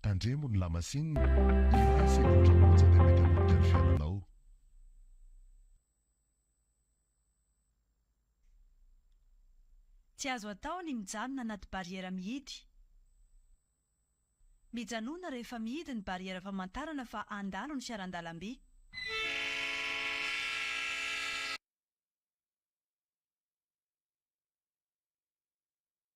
Tandremo ny lamasinina, iray segondra monja dia mety hanomboka ny fiainanao. Tsy azo atao ny mijanona anaty barrière mihidy. Mijanona rehefa mihidy ny barrière famantarana fa handalo ny fiaran-dalamby.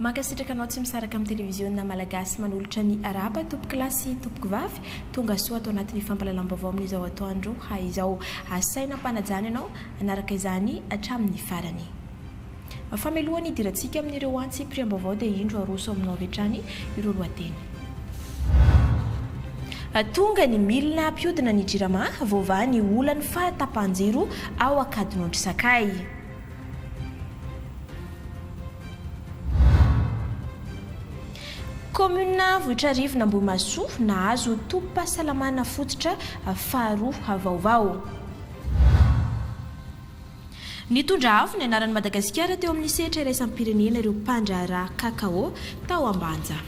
Mankasitraka anao tsy misaraka amin'ny televiziona malagasy manolotra ny arahaba tompoko lahy sy tompoko vavy tonga soa ato anatin'ny fampalalam-baovao amin'izao atoandro izao. Asaina ampanajana ianao hanaraka izany hatramin'ny farany. Fameloha ny hidirantsika amin'ireo antsy piriam-baovao dia indro aroso aminao avy hatrany ireo lohateny. Tonga ny milina hampiodina ny Jirama, voavaha ny olan'ny fahatapahan-jiro ao Ankadinondry Sakay. Kaominina Vohitrarivony Ambohimahasoa nahazo tobim-pahasalamana fototra faharoa vaovao. Nitondra avo ny anaran'i Madagasikara teo amin'ny sehatra iraisam-pirenena ireo mpandraharaha Cacao tao Ambanja.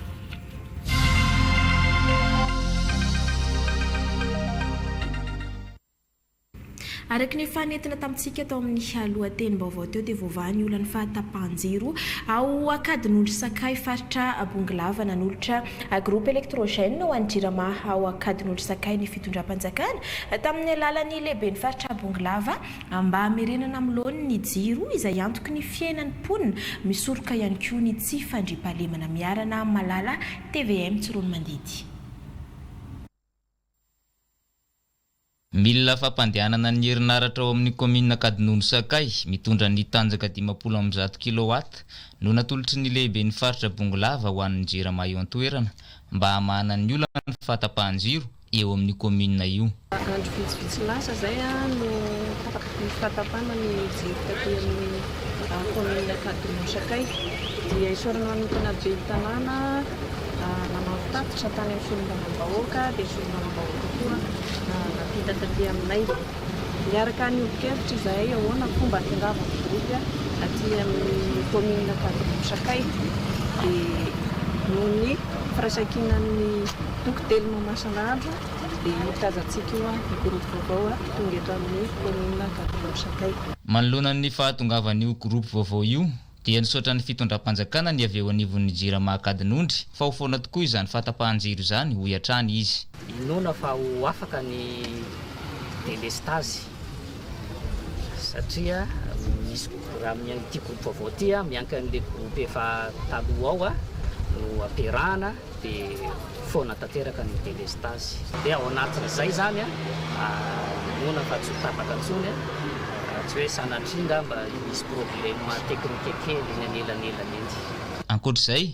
Araka ny efa nentina tamintsika tao amin'ny lohatenim-baovao teo dia voavaha ny olan'ny fahatapahan-jiro ao Ankadinondry Sakay faritra Bongolava. Nanolotra groupe électrogène ho an'ny Jirama ao Ankadinondry Sakay ny fitondram-panjakana tamin'ny alalan'ny lehiben'ny faritra Bongolava mba hamerenana amin'ny laoniny ny jiro izay antoky ny fiainan'ny mponina. Misoroka ihany koa ny tsy fandriampahalemana Miarana Malala, tvm Tsiroanomandidy. Milina fampandehanana ny herinaratra ao amin'ny kaominina Ankadinono Sakay mitondra ny tanjaka dimampolo amby zato kilowatt no natolotry ny lehiben'ny faritra Bongolava ho an'ny Jirama eo an-toerana mba hamahana ny olan'ny fahatapahan-jiro eo amin'io kaominina io. Andro vitsivitsy lasa izay no tapaka ny fahatapana ny jiro taty amin'ny kaominina Ankadinono Sakay dia isaorana manokana ben'ny tanàna, Nanao tatitra tany amin'ny solombavambahoaka dia solombavambahoaka koa nampita taty aminay. Niaraka niombo-kevitra izahay ahoana ny fomba hahatongavan'ny gropy aty amin'ny kaominina Ankadimbo Sakay. Dia noho ny firaisankinan'ny toko telo Mamasan'Andro dia io tazantsika io ny gropy vaovao tonga eto amin'ny kaominina Ankadimbo Sakay. Manoloana ny fahatongavan'io gropy vaovao io, dia nisaotra ny fitondram-panjakana ny avy eo anivon'ny Jirama Ankadinondry fa ho foana tokoa izany fahatapahan-jiro izany, hoy hatrany izy. Inoana fa ho afaka ny delestazy satria misy raha amin'ity groupe vaovao ity miankina amin'ilay groupe efa taloha ao no ampiarahana. dia foana tanteraka ny delestazy. Dia ao anatin'izay izany an, inoana fa tsy ho tapaka intsony an, raha tsy hoe sanatria angamba hisy problema teknika kely eny anelanelan eny. Ankoatra izay,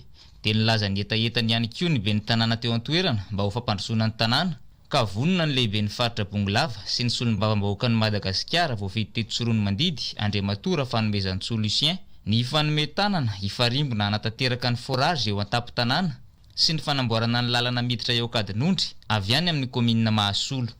dia nilaza ny hetahetany ihany koa ny ben'ny tanàna teo an-toerana mba ho fampandrosoana ny tanàna ka vonona ny lehiben'ny faritra Bongolava sy ny solombavambahoakan'i Madagasikara voafidy teto Tsiroanomandidy, Andriamatoa Rafanomezantsoa Lucien, ny hifanome tanana hifarimbona hanatanteraka ny forage eo an-tampon-tanàna sy ny fanamboarana ny lalana miditra eo Ankadinondry avy any amin'ny kaominina Mahasolo.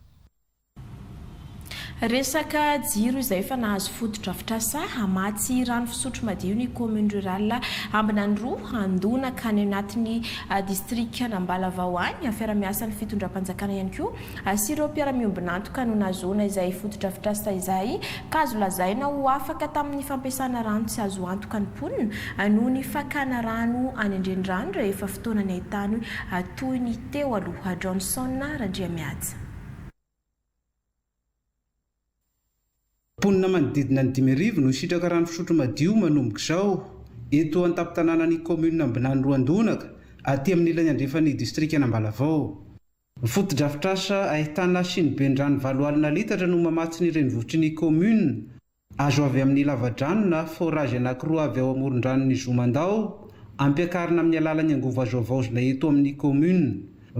Resaka jiro izay efa nahazo fotodrafitrasa, hamatsy rano fisotro madio ny commune rurale Ambinanroa, handona ka any anatin'ny distrikan'Ambalavao any, fiara-miasan'ny fitondram-panjakana ihany koa sy ireo mpiara-miombon'antoka no nahazoana izay fotodrafitrasa izay ka azo lazaina ho afaka tamin'ny fampiasana rano tsy azo antoka ny mponina noho ny fakana rano any an-drenirano rehefa fotoana ny haitany toy ny teo aloha Johnson Randriamihaja. Mponina manodidina ny dimy arivo no sitraka rano fisotro madio manomboka izao eto an-tampon-tanànan'ny kaominina Ambinany Roandonaka, aty amin'ny ilany andrefan'ny distrikan'Ambalavao. Ny fotodrafitrasa ahitana siniben-drano valo alina litatra no mamatsy ny renivohitry ny kaominina. Azo avy amin'ny lavadrano na forage anankiroa avy ao amoron-dranon'i Zomandao, ampiakarina amin'ny alalan'ny angovo azo havaozina eto amin'ny kaominina.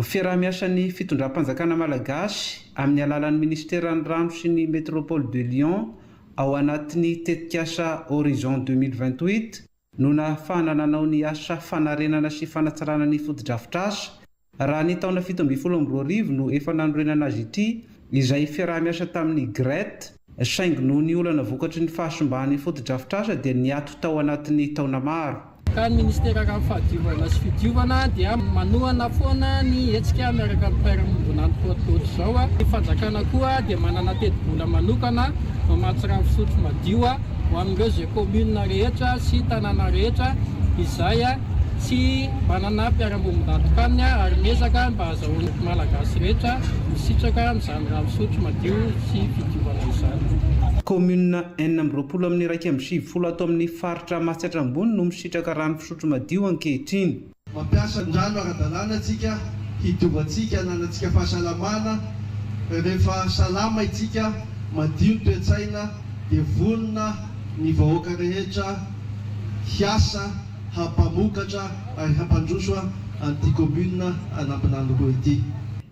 Fiaraha-miasan'ny fitondram-panjakana malagasy amin'ny alalan'ny minisiteran'ny Rano sy ny Métropole de Lyon ao anatin'ny tetikasa Horizon deux mille vingt-huit, no nahafahana nanao ny asa fanarenana sy fanatsarana ny fotodrafitrasa, raha ny taona fito ambin'ny folo amby roa arivo no efa nanorenana azy ity, izay fiaraha-miasa tamin'ny GRET, saingy noho ny olana vokatry ny fahasimban'ny fotodrafitrasa dia niato tao anatin'ny taona maro. Ka ny Ministera Rano Fahadiovana sy Fidiovana dia manohana foana ny hetsika miaraka amin'ny Mpairanombonan'ny Port Ohatrizao, ny Fanjakana koa dia manana tetibola manokana mamatsy rano fisotro madio. ho amin'ireo izay commune rehetra sy tanàna rehetra izay tsy manana mpiara-bombon-datin-kanina ary miezaka mba hazahoan'ny Malagasy rehetra misitraka amin'izany rano fisotro madio sy fidiovana izany. Commune enina amby roapolo amin'ny iraika amby sivifolo ato amin'ny faritra Matsiatra Ambony no misitraka rano fisotro madio ankehitriny. Mampiasa ny rano ara-dalàna isika hidovantsika, hananantsika fahasalamana. Rehefa salama isika, madio ny toe-tsaina, dia vonona ny vahoaka rehetra hiasa hampamokatra ary hampandroso an'ity commune an'Ambinanoroa ity.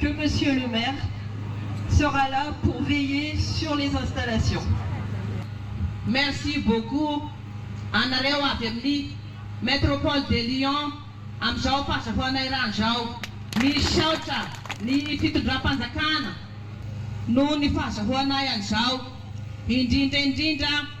que Monsieur le Maire sera là pour veiller sur les installations. Merci beaucoup anareo avy amin'ny Metropole de Lyon amin'izao fahazahoana irany izao. Misaotra ny fitondram-panjakana noho ny fahazahoanay an'izao, indrindra indrindra.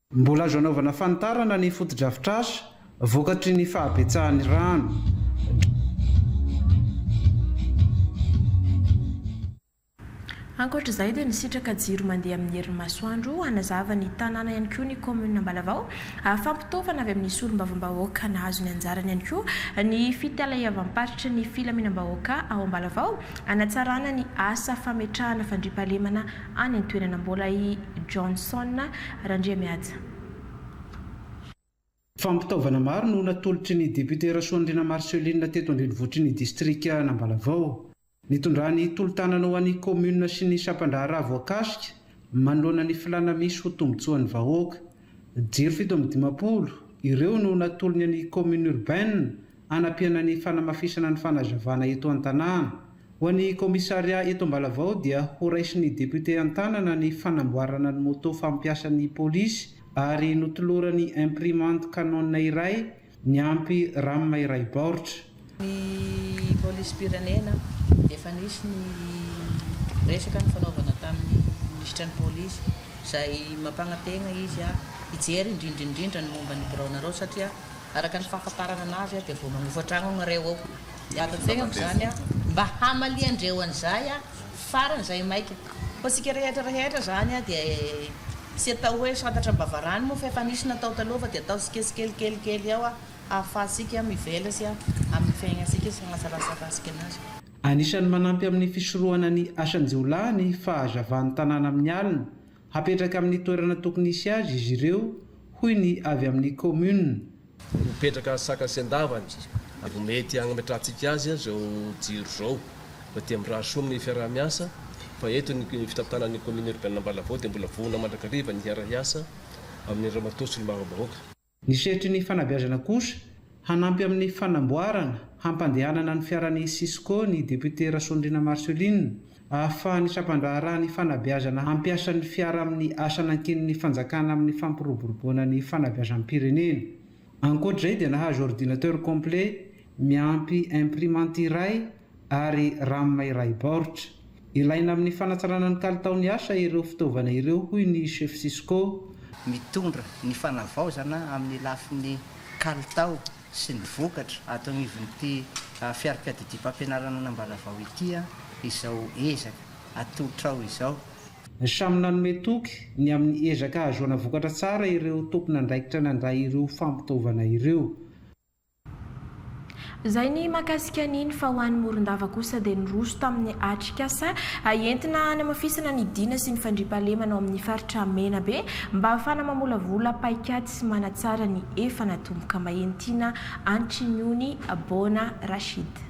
Mbola azo anaovana fanitarana ny fotodrafitrasa vokatry ny fahabetsahan'ny rano. Ankoatra izay dia nisitraka jiro mandeha amin'ny herin'ny masoandro hanazava ny tanàna ihany koa ny kaominina Ambalavao. Fampitaovana avy amin'ny solombavambahoaka nahazo ny anjarany ihany koa ny fitalahiavam-paritry ny filaminam-bahoaka ao Ambalavao hanatsarana ny asa fametrahana fandriampahalemana any an-toerana mbola i Johnson Randriamihaja. Fampitaovana maro no natolotry ny depiote Rasoandriana Marcelline teto an-drenivohitry ny distrika an'Ambalavao. Nitondrany tolo-tanana ho an'ny kaominina sy ny sampan-draharaha voakasika manoloana ny filàna misy ho tombontsoan'ny vahoaka. Jiro fito amby dimampolo, ireo no natolony ny Commune Urbaine hanampiana ny fanamafisana ny fanazavana eto an-tanàna. Ho an'ny Commissariat eto Ambalavao dia horaisin'ny Député an-tanana ny fanamboarana ny moto fampiasan'ny Polisy ary notolorany imprimante Canon iray Niampy Ram iray baoritra. Ny polisim-pirenena dia efa nisy ny resaka nifanaovana tamin'ny minisitra ny polisy izay mampanantegna izy hijery indrindra indrindra ny momba ny biraonareo satria araka ny fahafantarana anazy dia vao manofa tragno ianareo ao dia ato an-tsegnako izany mba hamalian-dreo an'izay Farany zay maika. Fa tsika rehetra rehetra zany dia tsy atao hoe santatra am-bavarano moa fa efa nisy natao taloha fa dia ataontsika tsikelikely kely ao ahafahantsika mivela sy amin'ny fiainantsika sy hanatsaratsaratsika anazy. Anisan'ny manampy amin'ny fisorohana ny asan-jiolahy ny fahazavan'ny tanàna amin'ny alina Hapetraka amin'ny toerana tokony hisy azy izy ireo, hoy ny avy amin'ny kaominina. Mipetraka saka sy an-davany vao mety hagnametrahantsika azy izao jiro izao fa dia mirary soa amin'ny fiaraha-miasa fa eto ny fitantanana ny kaominina urbaine Ambalavaho dia mbola voana mandrakariva ny hiara-hiasa amin'ny Ramatoa Solombavambahoaka Ny sehatry ny fanabeazana kosa, hanampy amin'ny fanamboarana, hampandehanana ny fiaran'ny Cisco ny depiote Rasoandriana Marcelline, ahafahan'ny sampandraharaha ny fanabeazana hampiasa ny fiara amin'ny asa nankinin'ny fanjakana amin'ny fampiroboroboana ny fanabeazam-pirenena. Ankoatr'izay dia nahazo ordinateur complet miampy imprimante iray, ary Ram iray baoritra. Ilaina amin'ny fanatsarana ny kalitaon'ny asa ireo fitaovana ireo, hoy ny Chef Cisco. Mitondra ny fanavaozana amin'ny lafiny kalitao sy ny vokatra ato anivon'ity fiaripiadidiam-pampianarana an'Ambalavao ity izao ezaka atolotra ao izao. Samy nanome toky ny amin'ny ezaka hahazoana vokatra tsara ireo tompon'andraikitra nandray ireo fampitaovana ireo. Izay ny mahakasika an'iny fa ho an'i Morondava kosa dia niroso tamin'ny atrikasa entina hanamafisana ny dina sy ny fandriampahalemana ao amin'ny faritra Menabe mba hahafana mamolavola paikady sy manatsara ny efa natomboka, Mahenitiana Antriniony Bona Rachid.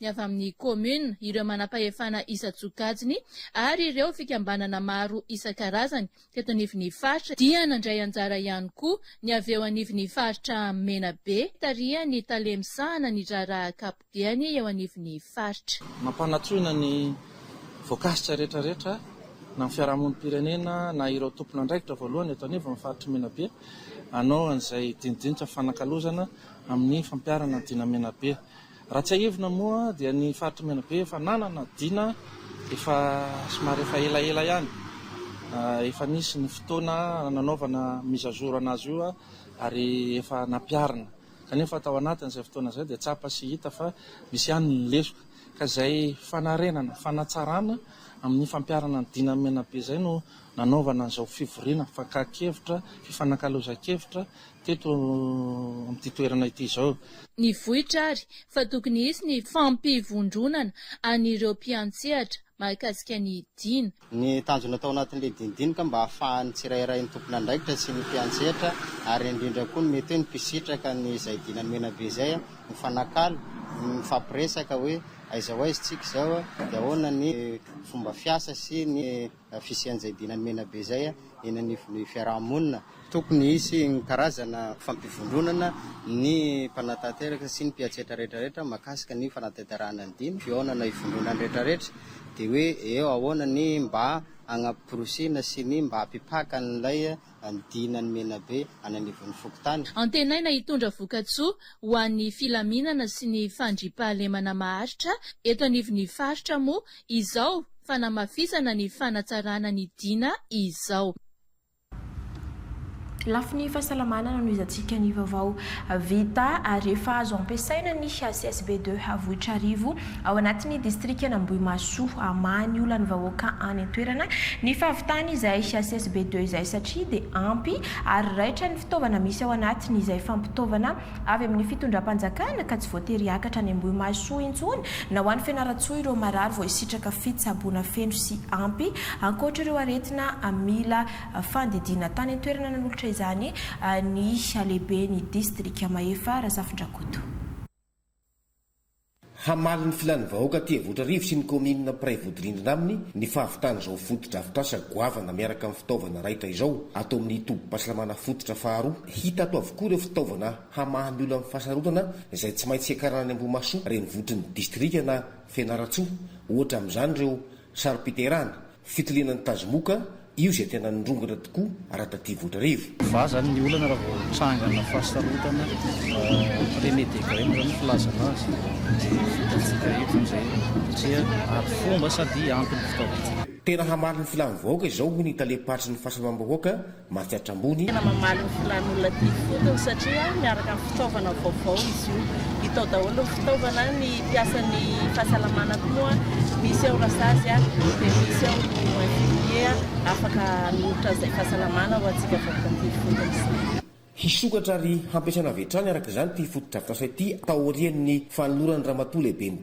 ny avy amin'ny kaominina, ireo manampahefana isan-tsokajiny ary ireo fikambanana maro isan-karazany teto anivon'ny faritra dia nandray anjara ihany koa ny avy eo anivon'ny faritra Menabe tarihan'ny tale misahana ny raharaha ankapobeny eo anivon'ny faritra. Mampanatsoina ny voakasika rehetrarehetra na ny fiarahamonim-pirenena na ireo tompon'andraikitra voalohany eto anivon'ny faritr'i Menabe hanao an'izay dinidinika fanakalozana amin'ny fampiharana an'i Dina Menabe. Raha tsiahivina moa dia ny faritry Menabe efa nanana Dina efa somary efa elaela ihany. Efa nisy ny fotoana nanaovana mise à jour anazy io ary efa nampiarina. Kanefa tao anatiny izay fotoana izay dia tsapa sy hita fa misy ihany ny lesoka. Ka izay fanarenana, fanatsarana amin'ny fampiarana ny Dina Menabe izay no nanaovana an'izao fivoriana fakan-kevitra, fifanakalozan-kevitra Teto amin'ity toerana ity izao. Ny vohitra ary fa tokony hisy ny fampivondronana an'ireo mpiantsehatra mahakasika ny Dina. Ny tanjona tao anatin'ilay dinidinika mba hahafahan'ny tsirairay ny tompon'andraikitra sy ny mpiantsehatra ary indrindra koa ny mety hoe ny mpisitraka ny izay Dina ny Menabe izay mifanakalo, mifampiresaka hoe aiza ho aiza tsika izao, dia ahoana ny fomba fiasa sy ny. fisian'izay dina mena be izay eny anivon'ny fiaraha-monina. Tokony hisy ny karazana fampivondronana ny mpanatanteraka sy ny mpiantsetra rehetrarehetra mahakasika ny fanatanterahana ny dina, fihaonana hivondronan'ny rehetrarehetra dia hoe eo ahoana ny mba hagnaporisiana sy ny mba hampipaka an'ilay hanodinana ny menabe any anivon'ny fokontany. Antenaina hitondra vokatsoa ho an'ny filaminana sy ny fandriampahalemana maharitra eto anivon'ny faritra moa izao fanamafisana ny fanatsarana ny Dina izao. Lafiny fahasalamana nanohizantsika ny vaovao vita ary efa azo ampiasaina ny CSB deux Avohitrarivo Ao anatin'ny distrikan'Ambohimahasoa, hamaha ny olan'ny vahoaka any an-toerana ny fahavitany izay HSSB deux izay satria dia ampy ary raitra ny fitaovana misy ao anatiny izay fampitaovana avy amin'ny fitondram-panjakana ka tsy voatery hiakatra any Ambohimahasoa intsony na ho any Fianarantsoa ireo marary voahisitraka fitsaboana feno sy ampy ankoatra ireo aretina mila fandidiana tany an-toerana nanolotra izany ny lehiben'ny distrika Mahefa Razafindrakoto. Hamaly ny filan'ny vahoaka aty Ambohitrarivo sy ny kaominina mpiray vodirindrina aminy ny fahavitan'izao fotodrafitrasa goavana miaraka amin'ny fitaovana raitra izao ato amin'ny tobim-pahasalamana fototra faharoa. Hita ato avokoa ireo fitaovana hamaha ny olan'ny fahasarotanana izay tsy maintsy hiakarana any Ambohimahasoa renivohitry ny distrika na Fianarantsoa. Ohatra amin'izany ireo sarom-piterahana, Fitiliana ny tazomoka, io izay tena nirongatra tokoa raha taty Voatrarivo. Vaha zany ny olana raha vao trangana fahasarotana premier degre moa zany ny filazana azy de hitantsika eto zany zay satria ary fomba sady antony fitaovantsika. Tena hamaly ny filan'ny vahoaka izao hoy ny talem-paritry ny fahasalamam-bahoaka mankatra ambony. Tena mamaly ny filan'olona aty ifotony satria miaraka amin'ny fitaovana vaovao izy io. Hita ao daholo ny fitaovana, ny mpiasan'ny fahasalamana koa moa misy ao rasazy dia misy ao ny infirmiers afaka hanolotra izay fahasalamana ho antsika vahoaka aty ifotony izay. Hisokatra ary hampiasaina avy hatrany araka izany ity fotodrafitrasa ity taorian'ny fanoloran'ny Ramatoa Lehiben'ny.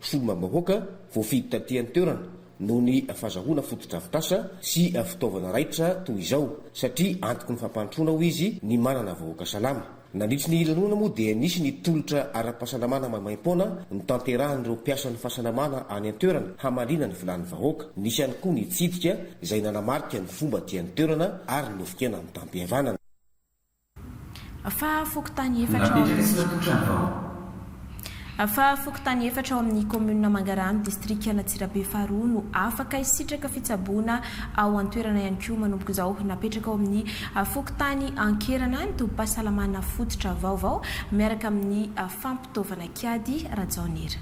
Solombavambahoaka voafidy taty an-toerana noho ny fazahoana fotodrafitrasa sy fitaovana raitra toy izao satria antoky ny fampandrosoana hoy izy ny manana vahoaka salama. Nandritry ny lanonana moa dia nisy ny tolotra ara-pahasalamana maimaim-poana notanterahin'ireo mpiasan'ny fahasalamana any an-toerana hamaliana ny filàn'ny vahoaka. Nisy ihany koa nitsidika izay nanamarika ny fomba aty an-toerana ary novikena amin'ny tam-pihavanana. Fa fokontany efatra ao amin'ny. Fa fokontany efatra ao amin'ny kaominina Mangarano, distrikan'Antsirabe faharoa no afaka hisitraka fitsaboana ao an-toerana ihany koa manomboka izao. Napetraka ao amin'ny fokontany Ankerana ny tobim-pahasalamana fototra vaovao miaraka amin'ny fampitaovana kiady, Rajaonira.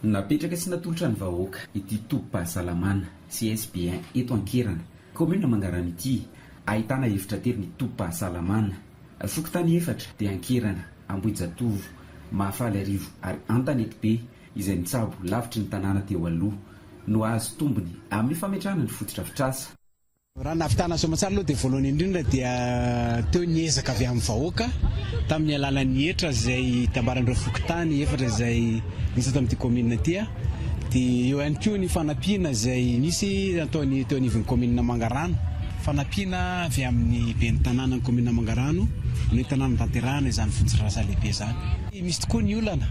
Napetraka sy natolotra ny vahoaka ity tobim-pahasalamana CSBN eto Ankerana, kaominina Mangarano ity, ahitana efitra telo ny tobim-pahasalamana. Fokontany efatra dia Ankerana, Ambohijatovo, Mahafaliarivo ary Antanetibe izay mitsabo lavitry ny tanàna teo aloha no hahazo tombony amin'ny fametrahana ny fotodrafitrasa. Raha nahavitana soamatsara aloha dia voalohany indrindra dia teo ny ezaka avy amin'ny vahoaka tamin'ny alalan'ny hetra izay tambaran'ireo fokontany efatra izay nisy eto amin'ity kaominina ity dia eo ihany koa ny fanampiana izay nisy nataony teo anivon'ny kaominina Mangarano, fanampiana avy amin'ny ben'ny tanànan'ny kaominina Mangarano no entina hanatanterahana izany fotodrarasa lehibe izany. Misy tokoa ny olana,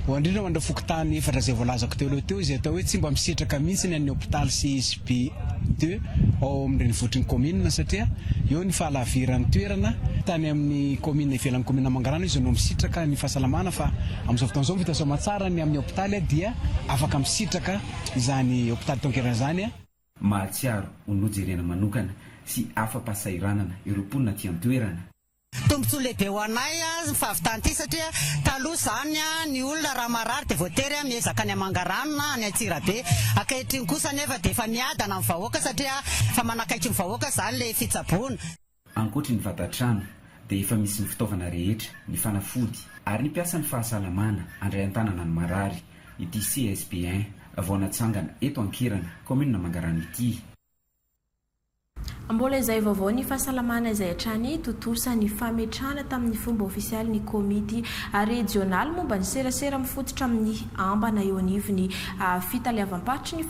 ho indrindra ho an'ireo fokontany efatra izay voalazako teo aloha teo izay atao hoe tsy mba misitraka mihitsy ny an'ny hopitaly sy SB. Deux, ao amin'ny renivohitry ny kaominina satria eo ny fahalaviran'ny toerana. Tany amin'ny kaominina ivelan'ny kaominina Mangarano izy no misitraka ny fahasalamana fa amin'izao fotoana izao vita soamantsara ny amin'ny hopitaly dia afaka misitraka izany hopitaly taon-kerana izany. Mahatsiaro ho nojerena manokana sy afa-pahasahiranana ireo mponina aty an-toerana. Tombontsoa lehibe ho anay ny fahavitan ity satria taloha izany ny olona raha marary dia voatery miezaka any Amangarano na any Antsirabe, ankehitriny kosa anefa dia efa miadana amin'ny vahoaka satria efa manakaiky ny vahoaka izany ilay fitsaboana. Ankoatry ny vatan-trano dia efa misy ny fitaovana rehetra, ny fanafody ary ny mpiasan'ny fahasalamana handray an-tanana ny marary ity CSP un vao natsangana eto Ankirana, kaominina Mangarano ity. Mbola izay vaovaon'ny fahasalamana izay hatrany tontosa ny fametrahana tamin'ny fomba ofisialy ny Komity Rejionaly momba ny Serasera mifototra amin'ny ambana eo anivon'ny Fitaleavam-paritry ny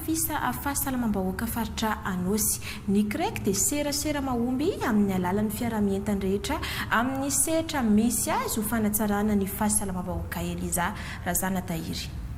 Fahasalamam-bahoaka Faritra Anôsy. Ny CREC dia serasera mahomby amin'ny alalan'ny fiaraha-mientany rehetra amin'ny sehatra misy azy ho fanatsarana ny fahasalamam-bahoaka Eliza Razanatahiry.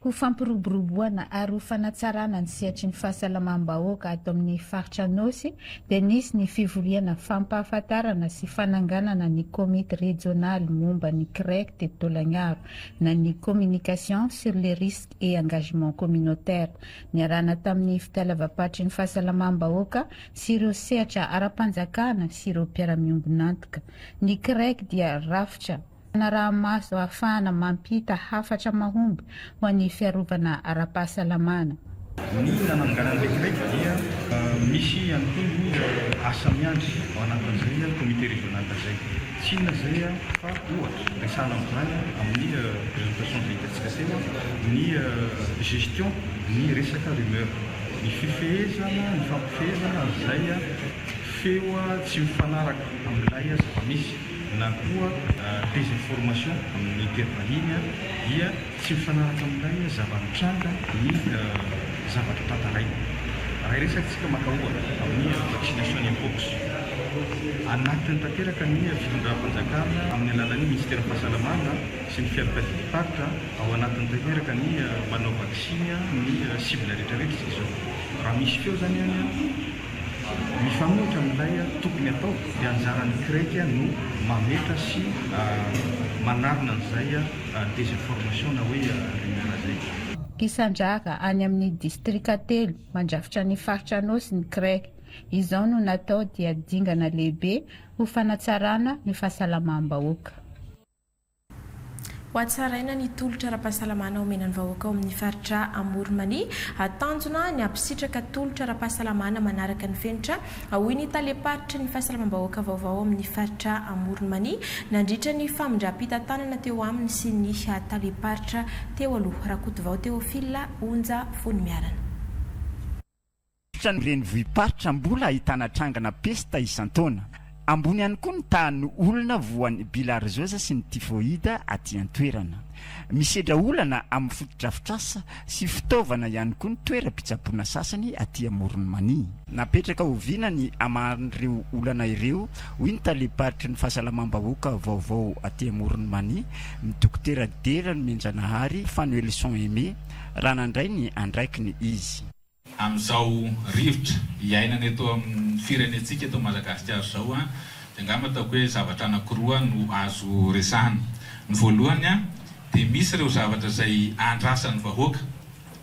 Ho fampiroboroboana ary ho fanatsarana ny sehatry ny fahasalamam-bahoaka ato amin'ny faritra Anôsy dia nisy ny fivoriana fampahafantarana sy fananganana ny komity rejionaly momba ny CREC teto Taolagnaro na ny Communication sur les risques et engagements communautaires niarahana tamin'ny fitalavam-patry ny fahasalamam-bahoaka sy ireo sehatra ara-panjakana sy ireo mpiara-miombon'antoka. Ny CREC dia rafitra fanaraha-maso ahafahana mampita hafatra mahomby ho an'ny fiarovana ara-pahasalamana. Ny nananganana ilay kiredy dia misy ihany koa ny asa miandry ao anatin'izay comité régional izay. Tsy inona izay fa ohatra, resahana amin'izany amin'ny présentation izay hitantsika teo, ny gestion ny resaka rumeur, ny fifehezana, ny fampifehezana an'izay feo tsy mifanaraka amin'ilay zava-misy. na koa désinformation amin'ny teny vahiny, dia tsy mifanaraka amin'ilay zava-nitranga ny zavatra tantaraina. Raha iresatsika maka ohatra amin'ny vaccination in pox, anatiny tanteraka ny fitondram-panjakana amin'ny alalan'ny Minisiteran'ny Fahasalamana sy ny Fiarankadidim-paritra, ao anatiny tanteraka ny manao vaksiny ny cible rehetra rehetra izao. Raha misy feo izany any. Mifanohitra amin'ilay tokony hatao dia anjaran'ny CREC no mametra sy manarina an'izay désinformation na hoe rumeur izay. Mpisandrahaka any amin'ny distrika telo mandrafitra ny faritra Anôsy ny CREC. Izao no natao dia dingana lehibe ho fanatsarana ny fahasalamam-bahoaka. Hohatsaraina ny tolotra ara-pahasalamana omena ny vahoaka ao amin'ny faritra Amoron'Mania. Tanjona ny hampisitraka tolotra ara-pahasalamana manaraka ny fenitra, hoy ny talem-paritry ny fahasalamam-bahoaka vaovao ao amin'ny faritra Amoron'Mania, nandritra ny famindram-pitantanana teo aminy sy ny talem-paritra teo aloha, Rakotovao Théophile Onja Voniamiarana. Tsotra ny renivohi-paritra mbola ahitana trangana pesta isan-taona. Ambony ihany koa ny tahan'ny olona voan'ny bilarzioza sy ny tifoida aty an-toerana. Misedra olana amin'ny fotodrafitrasa sy fitaovana ihany koa ny toeram-pitsaboana sasany aty Amoron'i Mania. Napetraka oviana ny hamahan'ireo olana ireo, hoy ny talem-paritry ny fahasalamam-bahoaka vaovao aty Amoron'i Mania, ny Dokotera Dera Nomenjanahary Fanoelison Aimé. raha nandray ny andraikiny izy. Amin'izao rivotra iainana eto amin'ny firenentsika eto Madagasikara izao dia angamba ataoko hoe zavatra anankiroa no azo resahina. Ny voalohany dia misy ireo zavatra izay andrasan'ny vahoaka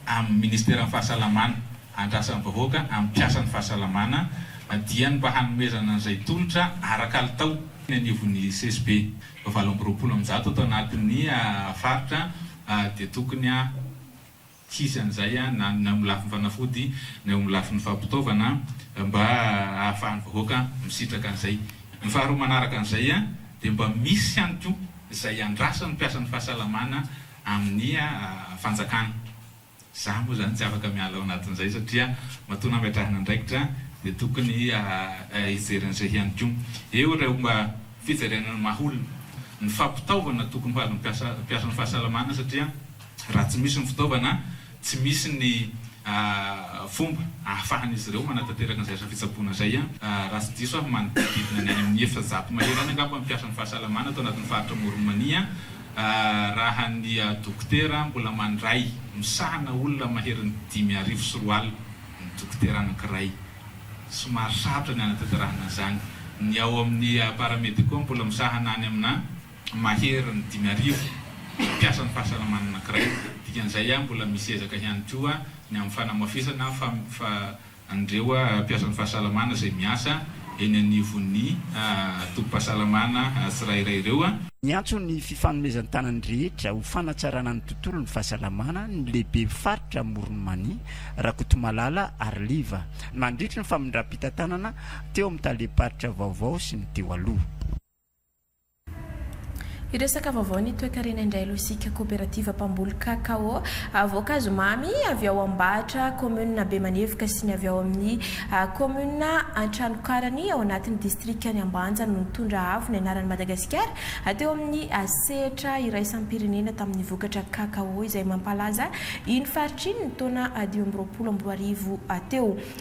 amin'ny ministeran'ny fahasalamana, andrasan'ny vahoaka amin'ny mpiasan'ny fahasalamana na dia ny mba hanomezana an'izay tolotra ara-kalitao eny anivon'ny CSB valo amby roapolo amin'ny zato ato anatin'ny faritra dia tokony tsy hisy an'izay na eo amin'ny lafiny fanafody na eo amin'ny lafiny fampitaovana mba hahafahan'ny vahoaka misitraka an'izay. Ny faharoa manaraka an'izay dia mba misy ihany koa izay andrasan'ny mpiasan'ny fahasalamana amin'ny fanjakana. Za moa zany tsy afaka miala ao anatin'izay satria matoa nametrahana andraikitra dia tokony hijery an'izay ihany koa. Eo ireo mba fijaliana ny maha olona, ny fampitaovana tokony ho azon'ny mpiasan'ny fahasalamana satria raha tsy misy ny fitaovana, tsy misy ny fomba ahafahan'izy ireo manatanteraka an'izay asa fitsaboana izay. Raha tsy diso aho manodidididina ny any amin'ny efajato mahery any angamba ny mpiasan'ny fahasalamana ato anatin'ny faritra Amoron'i Mania Raha ny dokotera mbola mandray misahana olona maherin'ny dimy arivo sy roa alina ny dokotera anankiray. Somary sarotra ny hanatanterahana an'izany. Ny ao amin'ny paramédicaux mbola misahana any amina maherin'ny dimy arivo mpiasan'ny fahasalamana anankiray. Dikan'izay mbola misy ezaka ihany koa ny amin'ny fanamafisana fa an'ireo mpiasan'ny fahasalamana izay miasa eny anivon'ny tobim-pahasalamana tsirairay ireo. Niantso ny fifanomezan-tanan'ny rehetra ho fanatsarana ny tontolon'ny fahasalamana ny lehibe faritra Amoron'i Mania, Rakotomalala Arliva, nandritry ny famindram-pitantanana teo amin'ny talem-paritra vaovao sy ny teo aloha. Hiresaka vaovao ny toekarena indray aloha isika, Koperativa mpamboly Kakao voankazo mamy avy ao Ambahatra, kaominina Bemanevoka sy ny avy ao amin'ny kaominina Antranokarany ao anatin'ny distrikan'i Ambanja no nitondra avo ny anaran'i Madagasikara teo amin'ny sehatra iraisam-pirenena tamin'ny vokatra Kakao izay mampalaza iny faritra iny ny taona dimy amby roapolo amby roa arivo teo.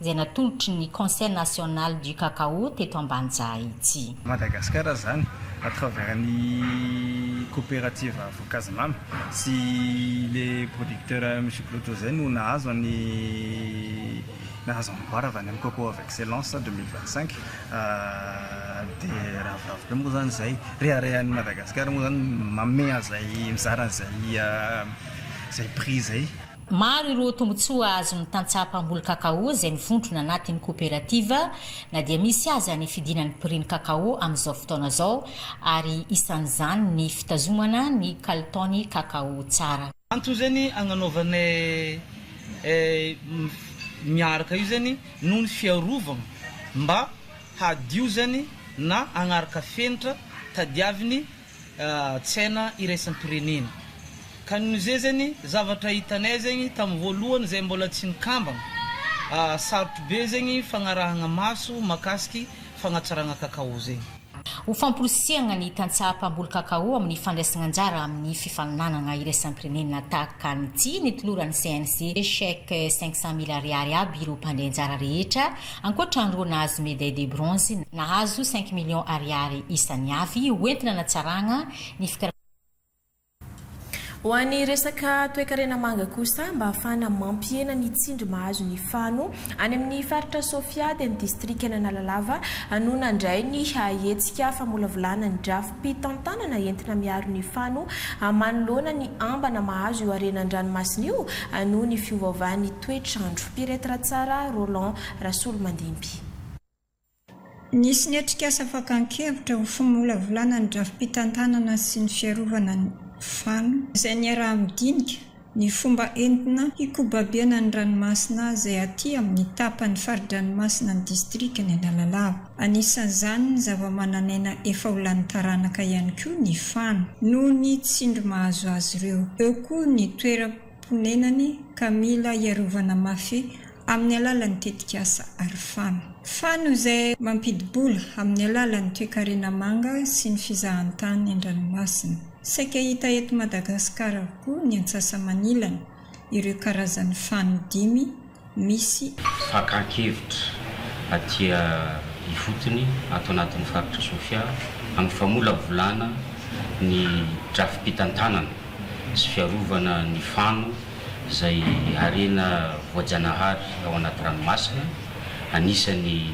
izay natolotry ny Conseil National du Cacao teto Ambanjaha ity. Madagasikara izany à travers ny coopérative Voankazimamy sy le producteur Monsieur Clodo izay no nahazo ny nahazo amboara avy any amin'ny Coco of Excellence deux mille vingt cinq dia ravoravo be moa izany izay, reharehan'i Madagasikara moa izany mameha izay mizara izay prix izay. Maro ireo tombontsoa azon'ny tantsaha mpamboly kakao izay mivondrona anatin'ny koperativa na dia misy aza ny fidinan'ny prix ny kakao amin'izao fotoana izao ary isan'izany ny fitazomana ny kalitaon'ny kakao tsara. Antso zany agnanaovana miaraka io zany noho ny fiarovagna mba hadio zany na agnaraka fenitra tadiaviny tsaina iraisam-pirenena. Ka noho izay zegny zavatra hitanay zegny tamin'ny voalohany izay mbola tsy nikambana, sarotro be zegny fagnarahagna maso mahakasiky fagnatsaragna cacao zegny. Ho famporisihagna ny tantsaha mpamboly cacao amin'ny fandraisagna anjara amin'ny fifaninanagna iraisam-pirenena tahaka ny tsy nitoloran'ny CNC chèque cinq cent mille ariary aby ireo mpandray anjara rehetra Ankoatra an'ireo nahazo médaille de bronze, nahazo cinq millions Ariary isany avy ho entina hanatsarana ny fikarakarana Ho an'ny resaka toekarena manga kosa, mba hahafahana mampihena ny tsindry mahazo ny fano any amin'ny faritra Sofia dia ny distrikan'Analalava no nandray ny hetsika famolavolana ny drafi-pitantanana entina miaro ny fano manoloana ny ambana mahazo io harena an-dranomasina io noho ny fiovaovan'ny Toetr'andro. Piretre tsara Roland Rasolomandimby. Nisy ny atrikasa fakan-kevitra ho fimolavolana ny drafi-pitantanana sy ny fiarovana ny fano, izay niaraha-midinika ny fomba entina hikobabena ny ranomasina izay aty amin'ny tapany fari-dranomasina ny distrikan'i Analalava. Anisan'izany ny zava-manan'aina efa ho lany taranaka ihany koa ny fano, noho ny tsindry mahazo azy ireo. Eo koa ny toeram. mponenany ka mila hiarovana mafy amin'ny alalan'ny tetikasa Aro Fano. Fano izay mampidi-bola amin'ny alalan'ny toekarena manga sy ny fizahantany an-dranomasina. Saika hita eto Madagasikara avokoa ny antsasamanilany ireo karazan'ny fano dimy. misy fakan-kevitra aty ifotony ato anatin'ny faritra Sofia amin'ny famolavolana ny drafi-pitantanana sy fiarovana ny fano izay harena voajanahary ao anaty ranomasina anisan'ny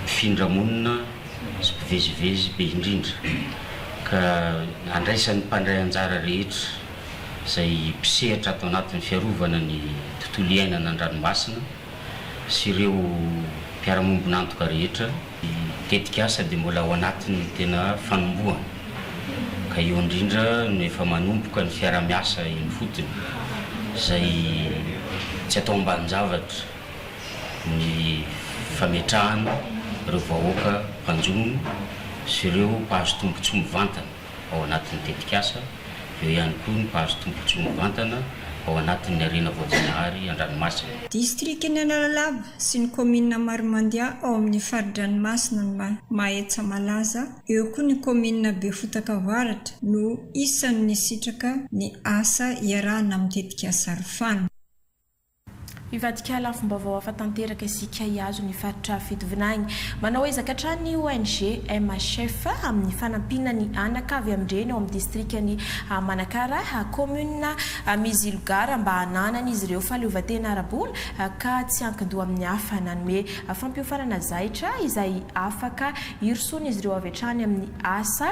mpifindra monina sy mpivezivezy be indrindra ka andraisan'ny mpandray anjara rehetra izay mpisehatra ato anatin'ny fiarovana ny tontolo iainana an-dranomasina sy ireo mpiara-miombon'antoka rehetra. Ny tetikasa dia mbola ao anatin'ny tena fanombohana ka eo indrindra no efa manomboka ny fiaraha-miasa eny ifotony izay tsy atao ambanin-javatra ny fametrahana ireo vahoaka mpanjono sy ireo mpahazo tombontsoa mivantana. ao anatin'ny tetikasa, eo ihany koa ny mpahazo tombontsoa mivantana ao anatin'ny harena voajanahary an-dranomasina. Distrikan'i Analalava sy ny kaominina Marimandià ao amin'ny fari-dranomasina ny Mahetsa malaza, eo koa ny kaominina Befotaka Avaratra no isan'ny nisitraka ny asa iarahana amin'ny tetikasa Rfan. Hivadika lafim-baovao hafa tanteraka isika hihazo ny faritra fitovinany. Manao ezaka hatrany ny ONG MHF amin'ny fanampiana ny anaka avy amin-dreny ao amin'ny distrikan'i Manakara, kaominina Mizilogara mba hananan'izy ireo fahaleovantena ara-bola ka tsy ankin-doha amin'ny hafa. Nanome fampiofanana zaitra izay afaka hirosoan'izy ireo avy hatrany amin'ny asa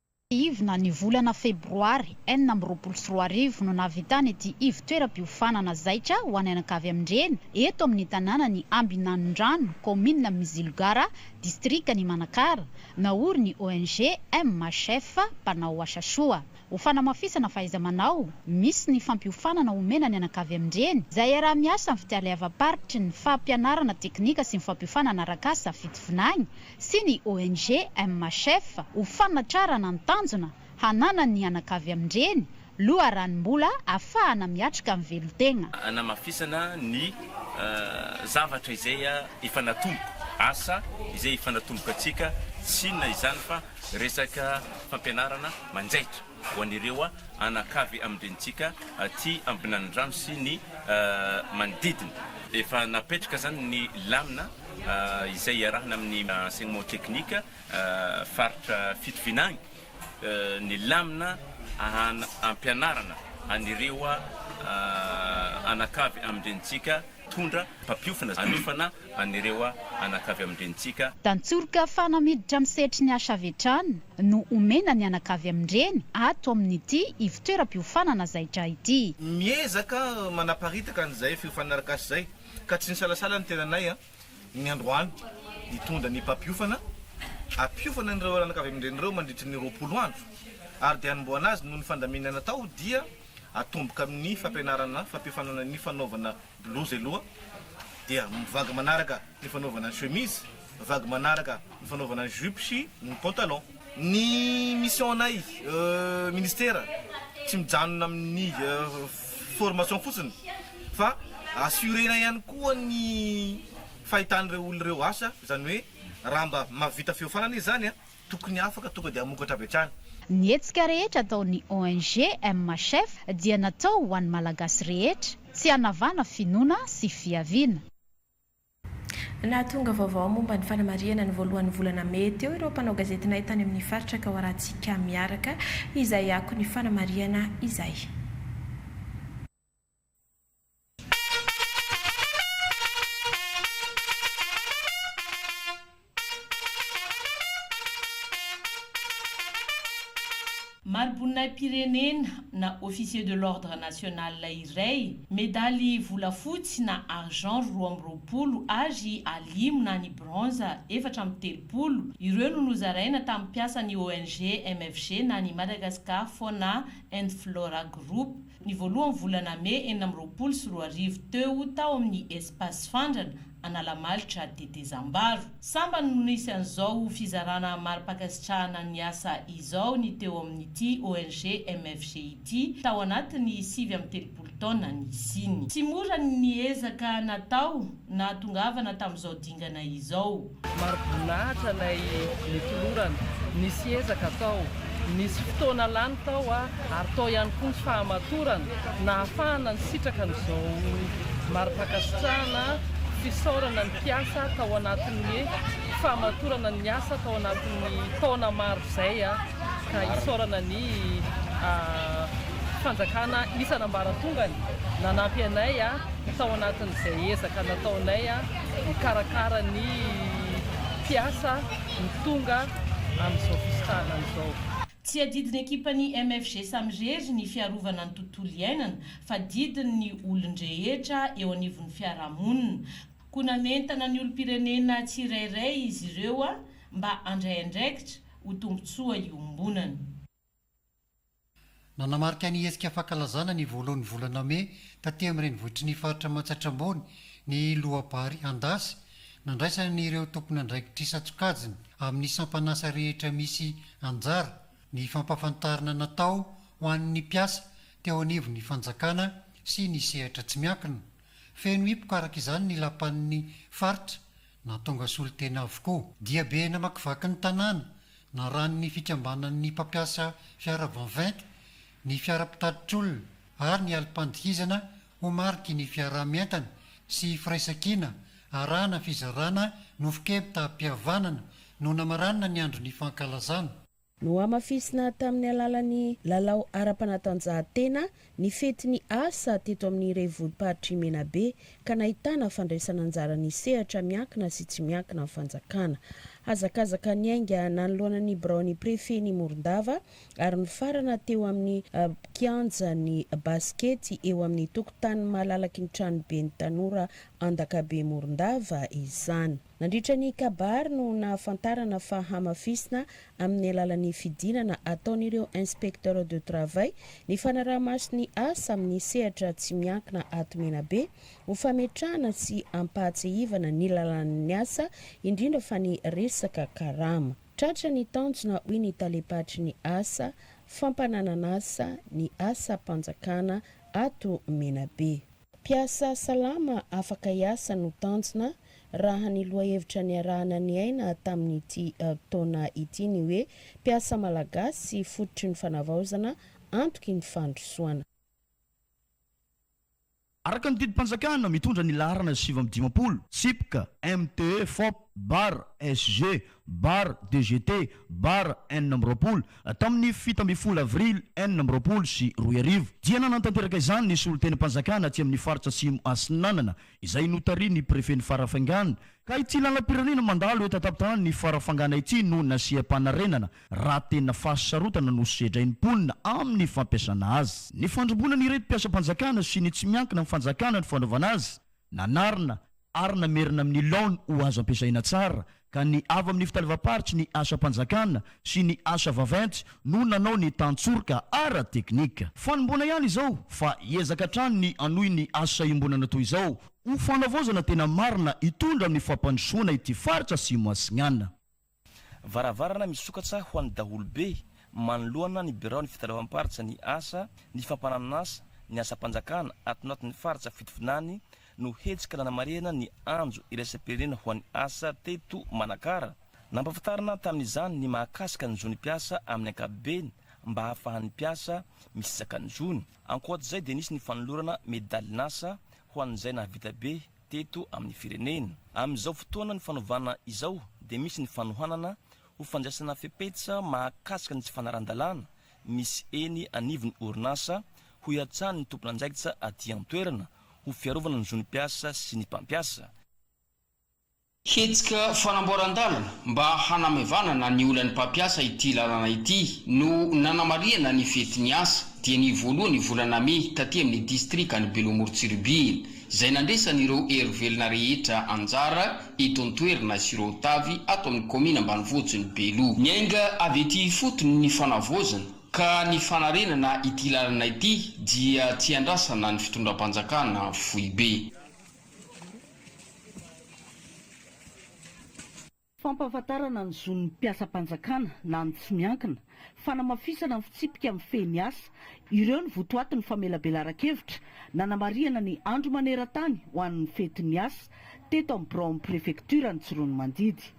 Ivona, Ny volana febroary enina amby roapolo sy roa arivo no nahavitana ity ivotoeram-piofanana zaitra ho an'anakavy amin-dreny eto amin'ny tanànan'i Ambinanondrano, kaominina Mizilogara, distrikan'i Manakara. Naory ny ONG MHF, mpanao asa soa. Ho fanamafisana fahaiza-manao, misy ny fampiofanana omena ny anakavy amin-dreny izay iaraha-miasa amin'ny fitaleavam-paritry ny fampianarana teknika sy ny fampiofanana arak'asa, fitovinagny, sy ny ONG MHF ho fanatrarana ny tanjona hananany ny anakavy amin-dreny loharanom-bola afahana miatrika ny velon-tegna. Hanamafisana ny zavatra izay efa natomboka, asa izay efa natomboka antsika, tsy inona izany fa resaka fampianarana manjaitra. ho an'ireo anakavy amin-drenintsika aty Ambinanindrano sy ny manodidina. Efa napetraka izany ny lamina izay iarahana amin'ny Enseignement Technique faritra Fitovinagny agny, ny lamina ahana ampianarana an'ireo anakavy amin-drenintsika mpitondra, mpampiofana, hanofana an'ireo anaka avy amin-drenintsika. Tantsoroka fana miditra amin'ny sehatry ny asa avy hatrany no omena ny anaka avy amin-dreny ato amin'ity ivon-toeram-piofanana zaitra ity. Miezaka manaparitaka an'izay fiofanana arak'asa izay ka tsy nisalasala ny tenanay ny androany hitondra ny mpampiofana hampiofana an'ireo anaka avy amin-dreny ireo mandritry ny roapolo andro ary dia hanombohana azy noho ny fandaminana atao dia atomboka amin'ny fampianarana fampiofanana ny fanaovana Blouse aloha dia vague manaraka ny fanaovana ny chemise, vague manaraka ny fanaovana ny jupe sy ny pantalon. Ny mission-nay ministera tsy mijanona amin'ny formation fotsiny fa assurer-na ihany koa ny fahitan'ireo olona ireo asa, izany hoe raha mba mahavita fiofanana izy izany Tokony afaka tonga dia hamokatra avy hatrany. Ny hetsika rehetra ataon'ny ONG MHF dia natao ho an'ny Malagasy rehetra, tsy hanavana finoana sy fiaviana. Nahatonga vaovao momba ny fanamarihana ny voalohan'ny volana mey teo ireo mpanao gazetinay tany amin'ny faritra Kaoharatsiaka Miaraka izay akon'ny fanamarihana izay. Mari-boninahi-pirenena na Officier de l'Ordre National iray, medaly volafotsy na argent roa amby roapolo ary alimo na ny bronze efatra amby telopolo, ireo no nozaraina tamin'ny mpiasan'ny ONG MFG na ny Madagascar Fauna and Flora Group. Ny voalohan'ny volana mey enina amby roapolo sy roa arivo teo tao amin'ny Espace Fandrana, Analamalitra, Tetezambaro. Sambany no nisy an'izao fizarana mari-pankasitrahana ny asa izao ny teo amin'ity ONG MFG ity tao anatin'ny sivy amby telopolo taona nisiany. Tsy mora ny ezaka natao nahatongavana tamin'izao dingana izao. Maro boninahitra ilay notolorana, nisy ezaka tao, nisy fotoana lany tao ary tao ihany koa ny fahamatorana nahafahana nisitraka an'izao mari-pankasitrahana fisaorana ny mpiasa tao anatin'ny fahamatorana ny asa tao anatin'ny taona maro izay ka isaorana ny fanjakana isan'ambaratongany nanampy anay tao anatin'izay ezaka nataonay mikarakara ny mpiasa ny tonga amin'izao fisitrahana izao. Tsy adidin'ny ekipan'ny MFG samirery ny fiarovana ny tontolo iainana fa didin' ny olon-drehetra eo anivon'ny fiarahamonina, koa nanentana ny olom-pirenena tsirairay izy ireo mba handray andraikitra ho tombontsoa iombonana. Nanamarika ny hetsika fankalazana ny voalohan'ny volana mey taty amin'ny renivohitry ny faritra Matsiatra Ambony ny loabary Andasy nandraisana ny ireo tompon'andraikitr'isan-tsokajiny amin'ny sampan'asa rehetra misy anjara ny fampafantarana natao ho an'ny mpiasa teo anivon'ny fanjakana sy ny sehatra tsy miankina. Feno hipoka araka izany ny lapan'ny faritra na tonga solontena avokoa. Diabe namakivaky ny tanàna naran'ny fikambanan'ny mpampiasa fiara Vanvent, ny fiara mpitatitr'olona ary ny alim-pandihizana ho mariky ny fiaraha-mientana sy firaisankina arahana fizarana nofon-kempi-tam-pihavanana no namaranina ny andron'ny fankalazana. Nohamafisina tamin'ny alalan'ny lalao ara-panatanjahantena ny fetin'ny asa teto amin'ny revolimparitr'i Menabe ka nahitana fandraisana anjaran'ny sehatra miankina sy tsy miankina amin'ny fanjakana. Hazakazaka niainga nanoloana ny biraon'ny prefen'i Morondava ary nifarana teo amin'ny kianjan'ny basikety eo amin'ny tokotanin'ny malalaky ny tranoben'ny tanora Andakabe Morondava izany. Nandritra ny kabary no nahafantarana fa hamafisina amin'ny alalan'ny fidinana ataon'ireo Inspecteurs de Travail ny fanaraha-maso ny asa amin'ny sehatra tsy miankina ato Menabe ho fametrahana sy hampahatsiahivana ny lalàn'ny asa indrindra fa ny resaka karama. Tratra ny tanjona hoy ny Talem-paritry ny asa fampananan'asa ny asam-panjakana ato Menabe. Mpiasa salama afaka hiasa no tanjona raha ny lohahevitra niarahana niaina tamin'ity taona ity ny hoe mpiasa malagasy fototry ny fanavaozana antoky ny fandrosoana. Araka ny didim-panjakana mitondra ny laharana sivy amby dimampolo, Sipk, MTE, Fop, Bar, SG, Bar, DGT, Bar, enina amby roapolo, tamin'ny fito ambin'ny folo avrily enina amby roapolo sy roa arivo, dia nanatanteraka izany ny solontenim-panjakana aty amin'ny faritra Atsimo Atsinanana, izay notarihin'ny prefen'i Farafangana, ka ity lalam-pirenena mandalo eto an-tampon-tanàn'i Farafangana ity no nasiam-panarenana, raha tena fahasarotana no sedrain'ny mponina amin'ny fampiasana azy. Nifandrimbonan'ireto mpiasam-panjakana sy ny tsy miankina amin'ny fanjakana ny fanaovana azy, Nanarina ary namerina amin'ny laony ho azo ampiasaina tsara ka ny avy amin'ny fitalevam-paritry ny asam-panjakana sy ny asa vaventy no nanao ny tantsoroka ara-teknika. Fanomboana ihany izao fa hiezaka hatrany ny hanohy ny asa iombonana toy izao ho fanavaozana tena marina hitondra amin'ny fampandrosoana ity faritra Asimo Asignana. Varavarana misokatra ho an'ny daholobe manoloana ny biraon'ny fitaleovam-paritra ny asa, ny fampananon'asa, ny asam-panjakana ato anatin'ny faritra fitovinany no hetsika nanamarihana ny Andro iraisam-pirenena ho an'ny asa teto Manakara. Nampahafantarina tamin'izany ny mahakasika ny zon'ny mpiasa amin'ny ankapobeny mba hahafahan'ny mpiasa misizaka ny zony. Ankoatr'izay dia nisy ny fanolorana medalin'asa ho an'izay nahavita be Teto amin'ny firenena, amin'izao fotoana nifanovana izao dia misy ny fanohanana ho fandraisana fepetra mahakasika ny tsy fanarahan-dalàna misy eny anivon'ny orinasa hoiatsahan'ny tompon'andraikitra aty an-toerana ho fiarovana ny zon'ny mpiasa sy ny mpampiasa. Hetsika fanamboaran-dalana mba hanamaivanana ny olan'ny mpampiasa ity lalana ity no nanamarihana ny fetin'ny asa dia ny voalohan'ny volana mey taty amin'ny distrikan'i Beloamorontsiribihina izay nandraisan'ireo hery velona rehetra anjara eto an-toerana sy ireo tavy ato amin'ny kaomina ambanivohitrin'i Belo. Niainga avy ety ifotony ny fanavaozana ka ny fanarenana ity lalana ity dia tsy iandrasana ny fitondram-panjakana foibe. Fampahafantarana ny zon'ny mpiasam-panjakana na ny tsy miankina, fanamafisana ny fitsipika mifehy ny asa, ireo ny votoatin'ny famelabelaran-kevitra, nanamarihana ny Andro maneran-tany ho an'ny fetin'ny asa, teto amin'ny biraon'ny prefektioran'ny Tsiroanomandidy.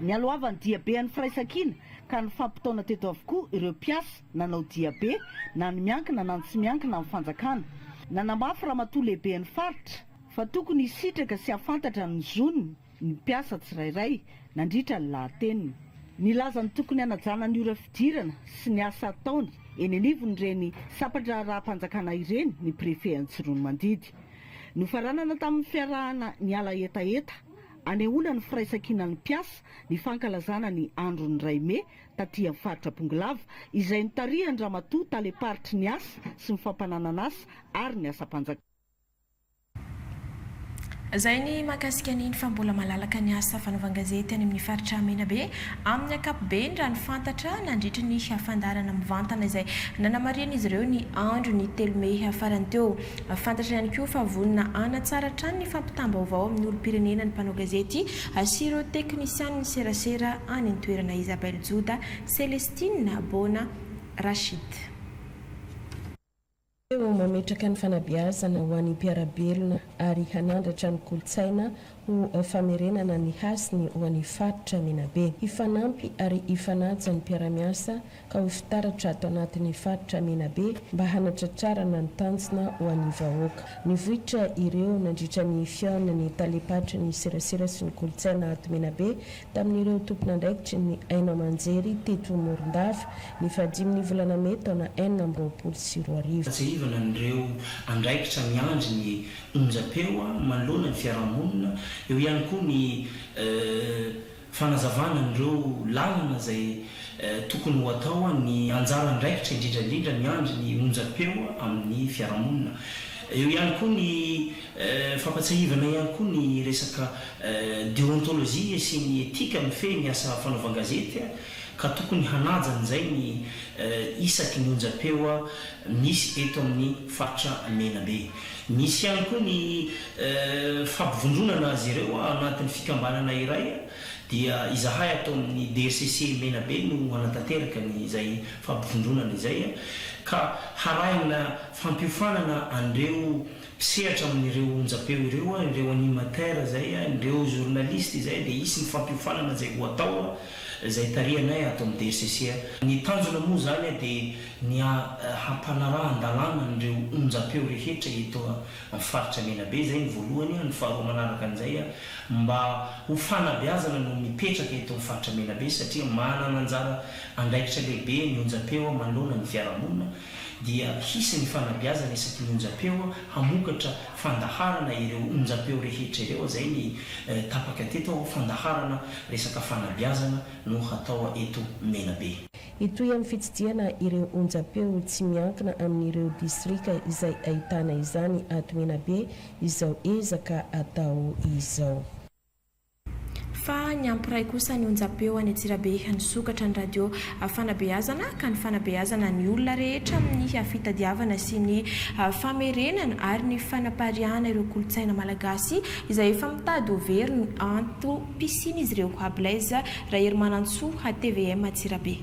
Nialohavan'ny diabe an'ny firaisankina ka nifampitaona teto avokoa ireo mpiasa nanao diabe na ny miankina na ny tsy miankina amin'ny fanjakana. Nanamafy ramatoa lehiben'ny faritra fa tokony hisitraka sy hahafantatra ny zony ny mpiasa tsirairay nandritra ny lahateniny. Nilaza ny tokony hanajana ny ora fidirana sy ny asa ataony eny anivon'ireny sampan-draharaham-panjakana ireny ny Préfet Antsiroanomandidy. Nofaranana tamin'ny fiarahana niala hetaheta hanehoana ny firaisankinan'ny mpiasa ny fankalazana ny andron'ny iray mey taty amin'ny faritra Bongolava, izay notarihan-dRamatoa Talem-paritry ny asa sy ny fampananan'asa ary ny asam-panjakana. Izay ny mahakasika an'iny fa mbola malalaka ny asa fanaovan-gazety any amin'ny faritra Menabe amin'ny ankapobeny raha ny fantatra nandritry ny fandaharana mivantana izay nanamarihan'izy ireo ny andron'ny telo mey farany teo. Fantatra ihany koa fa vonona hanatsara hatrany ny fampitam-baovao amin'ny olom-pirenena ny mpanao gazety sy ireo teknisianin'ny serasera any an-toerana Isabelle Joda, Celestine Bona, Rachid. Teo amin'ny mametraka ny fanabeazana ho an'ny mpiara-belona ary hanandratra ny kolontsaina ho famerenana ny hasiny ho an'ny faritra Menabe. Hifanampy ary hifanaja ny mpiara-miasa ka ho fitaratra ato anatin'ny faritra Menabe mba hanatratrarana ny tanjona ho an'ny vahoaka. Nivoitra ireo nandritra ny fihaonan'ny talem-paritry ny serasera sy ny kolontsaina ato Menabe tamin'ireo tompon'andraikitry ny haino aman-jery teto Morondava ny faha-dimin'ny volana mey taona enina amby roapolo sy roa arivo. Ahatsiarovana an'ireo andraikitra miandry ny onjam-peo manoloana ny fiarahamonina, eo ihany koa ny. Fanazavana an'ireo lalana izay tokony ho atao, ny anjara andraikitra indrindra indrindra miandry ny onjam-peo amin'ny fiarahamonina. Eo ihany koa ny fampatsiahivana ihany koa ny resaka deontolojia sy ny etika mifehy ny asa fanaovan-gazety ka tokony hanaja an'izay ny isaky ny onjam-peo misy eto amin'ny faritra Menabe. Nisy ihany koa ny fampivondronana azy ireo anatin'ny fikambanana iray dia izahay ato amin'ny DECC Menabe no hanatanteraka ny izay fampivondronana izay ka harahina fampiofanana an'ireo mpisehatra amin'ireo onjam-peo ireo, ireo animateurs izay, ireo journalistes izay dia hisy ny fampiofanana izay ho atao. izay tarihanay ato amin'ny DRCC. Ny tanjona moa izany dia ny hampanarahan-dalàna an'ireo onjam-peo rehetra eto amin'ny faritra Menabe, izay ny voalohany, ny faharoa manaraka an'izay mba ho fanabeazana no mipetraka eto amin'ny faritra Menabe satria manana anjara andraikitra lehibe ny onjam-peo manoloana ny fiarahamonina. dia hisy ny fanabeazana isaky ny onjam-peo hamokatra fandaharana ireo onjam-peo rehetra ireo, izay ny tapaka teto ho fandaharana resaka fanabeazana no hatao eto Menabe. Hitohy amin'ny fitsidihana ireo onjam-peo tsy miankina amin'ireo distrika izay ahitana izany ato Menabe izao ezaka atao izao. Fa ny hampiray kosa ny onjam-peo any Antsirabe nisokatra ny radio fanabeazana ka ny fanabeazana ny olona rehetra amin'ny fitadiavana sy ny famerenana ary ny fanapariahana ireo kolontsaina malagasy izay efa mitady ho very ny antom-pisian'izy ireo. Blaise Raherimanantsoa, tvm Antsirabe.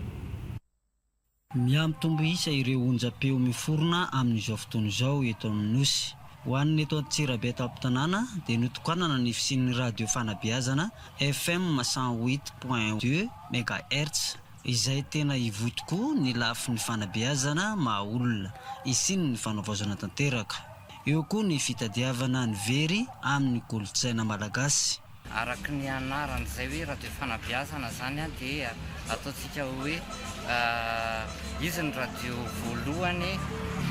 Mihamitombo isa ireo onjam-peo miforona amin'izao fotoana izao eto amin'ny Nosy. Ho an'ny eto Antsirabe an-tampon-tanàna dia notokanana ny fisian'ny radio fanabeazana FM cent huit point deux megahertz izay tena hivoy tokoa ny lafiny fanabeazana maha olona, hisian'ny fanavaozana tanteraka. Eo koa ny fitadiavana ny very amin'ny kolontsaina malagasy. Araka ny anarany izay hoe radio fanabeazana izany dia ataontsika hoe izy ny radio voalohany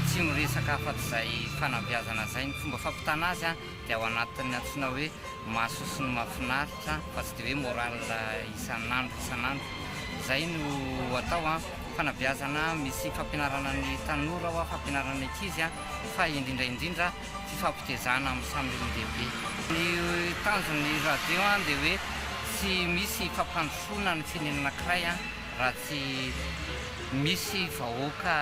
tsy miresaka afa-tsy izay fanabeazana izay. Ny fomba fampitana azy dia ao anatin'ny antsoina hoe Mahasoa sy ny Mahafinaritra fa tsy dia hoe morale isan'andro isan'andro. Izay no atao, fanabeazana misy fampianarana ny tanora, fampianarana ny ankizy fa indrindra indrindra fifampitezana amin'ny samy olon-dehibe. Ny tanjon'ny radio dia hoe tsy misy fampandrosoana ny firenena anankiray raha tsy misy vahoaka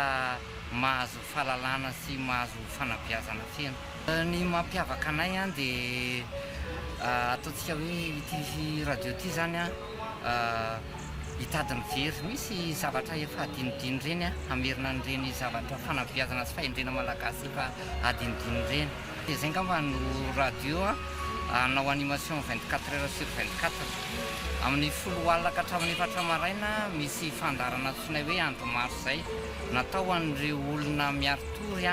mahazo fahalalana sy mahazo fanabeazana feno. Ny mampiavaka anay dia ataontsika hoe ity radio ity izany hitady ny very, misy zavatra efa hadinodino ireny hamerina an'ireny zavatra fanabeazana sy fahendrena malagasy efa adinodino ireny dia izay angamba no radio hanao animation vingt quatre heures sur vingt quatre amin'ny folo alina ka hatramin'ny efatra maraina misy fandaharana antsoinay hoe andro maro izay natao ho an'ireo olona miari-tory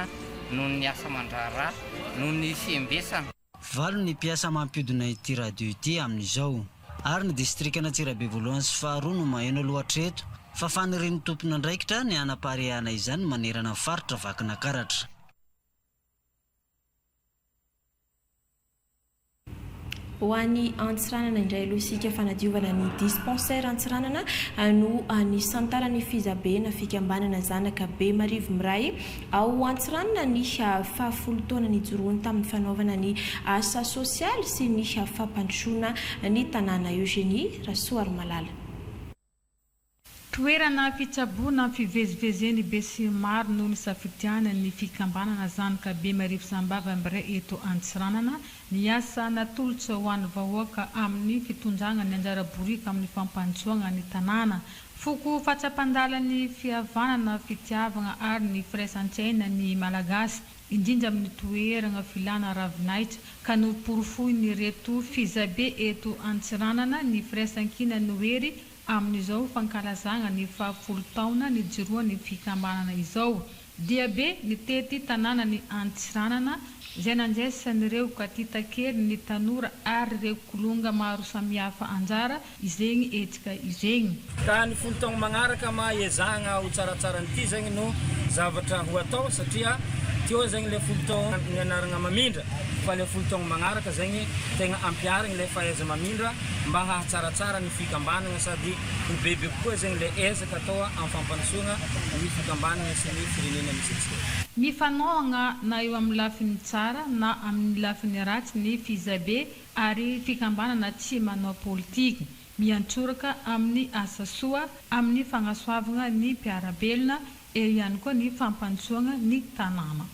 noho ny asa aman-draharaha noho ny fiembesana Valo ny mpiasa mampiodina ity radio ity amin'izao. Ary ny distrikan'Antsirabe voalohany sy faharoa no maheno aloha hatreto, fa fanirian'ny tompon'andraikitra ny hanapariahana izany manerana ny faritra Vakinakaratra. Ho an'i Antsiranana indray aloha isika, fanadiovana ny dispensaire Antsiranana no nisantaran'i Fizabe na fikambanana zanaka Bemarivo miray Ao Antsiranana ny fahafolo taona nijoroany tamin'ny fanaovana ny asa sosialy sy ny fampandrosoana ny tanàna Eugénie Rasoarimalala. Toerana fitsaboana fivezivezen'ny besinimaro no nisafidian'ny fikambanana Zanoka Bemarivo Sambava Mb'Re eto Antsiranana Ny asa natolotra ho an'ny vahoaka amin'ny fitondrana ny anjara boriky amin'ny fampandrosoagna ny tanàna, foko fahatsapan-dala ny fihavanana, fitiavagna ary ny firaisan-tsaina ny Malagasy, indrindra amin'ny toeragna filana ravinahitra, ka noporofoin'ireto fizabe eto Antsiranana ny firaisan-kina ny wery amin'izao fankalazagna ny faha folo taona nijoroan'ny fikambanana izao. Diabe nitety tanànan'i Antsiranana izay nandraisan'ireo katitakely ny tanora ary ireo kilonga maro samihafa anjara izegny hetsika izegny. Ka ny folo taogno magnaraka ma iezahagna ho tsaratsara an'ity zegny no zavatra ho atao satria teo zegny le folo taogno nianaragna mamindra fa le folo taogno magnaraka zegny tegna ampiharigny le fahaiza-mamindra mba hahatsaratsara ny fikambanagna sady ho bebe kokoa zegny le Atao amin'ny fampandrosoana ny fikambanana sy ny firenena misy antsika. Ny fanohagna na eo amin'ny lafiny tsara na amin'ny lafiny ratsy ny fizabe ary fikambanana tsy manao politika, miantsoraka amin'ny asa soa, amin'ny fagnasoavagna ny mpiara-belona, eo ihany koa ny fampandrosoagna ny tanàna.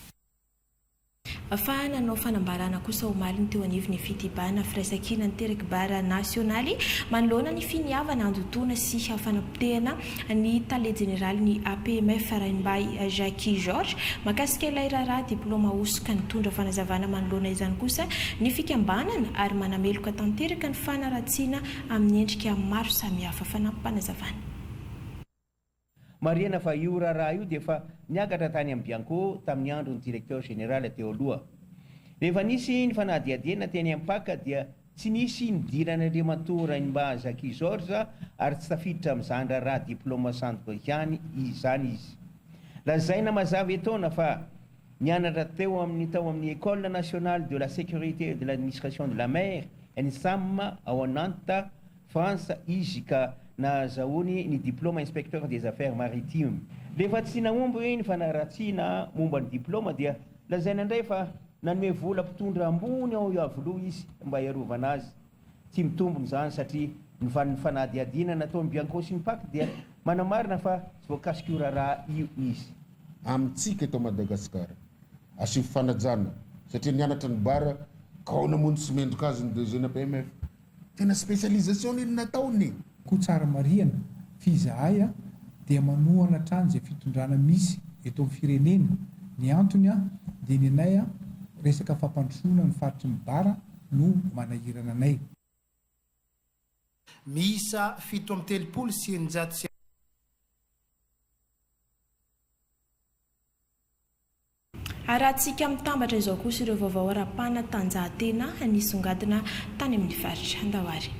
Fa nanao fanambarana kosa omaly ny teo anivon'ny Fitibana Firaisankina nitery kibara nasionaly manoloana ny finiavana handotoana sy fanapotehana ny tale jeneralin'ny APMF Rainibahy Jacky Georges mahakasika ilay raharaha diplaoma hosoka. Nitondra fanazavana manoloana izany kosa ny fikambanana ary manameloka tanteraka ny fanaratsiana amin'ny endrika maro samihafa. Fanampim-panazavana. Marihina fa io raharaha io dia efa niakatra tany amin'ny Bianco tamin'ny andron'ny Directeur Général teo aloha. Rehefa nisy ny fanadihadiana teny Ampac dia tsy nisy nidiran'Andriamatoa Rainimbahy Zacky Georges ary tsy tafiditra amin'izany raharaha diplôme sandoka ihany izany izy. Lazaina mazava etoana fa nianatra teo amin'ny tao amin'ny École Nationale de la Sécurité et de l'Administration de la Mer, ENSAM, ao Nantes, France izy ka nahazahoany ny diploma inspecteur des affaires maritimes. Rehefa tsy nahomby ny fanaratsiana momba ny diploma dia lazaina indray fa nanome vola mpitondra ambony ao Iavoloha izy mba hiarovana azy. Tsy mitombina izany satria ny fanadihadiana nataon'i Bianco sy ny Pac dia manamarina fa tsy voakasik'io raharaha io izy. Amintsika eto Madagasikara, asio fanajana satria nianatra ny Bar ka ahoana moa no tsy mendrika azy ny DG-na BMF? Tena specialisation iny nataony e! Koa tsara marihana fy izahay dia manohana hatrany izay fitondrana misy eto amin'ny firenena, ny antony dia ny anay resaka fampandrosoana ny faritry ny Bara no manahirana anay. Miisa fito amby telopolo sy eninjato sy. Arahantsika mitambatra izao kosa ireo vaovao ara-panatanjahantena nisongadina tany amin'ny faritra Andaoary.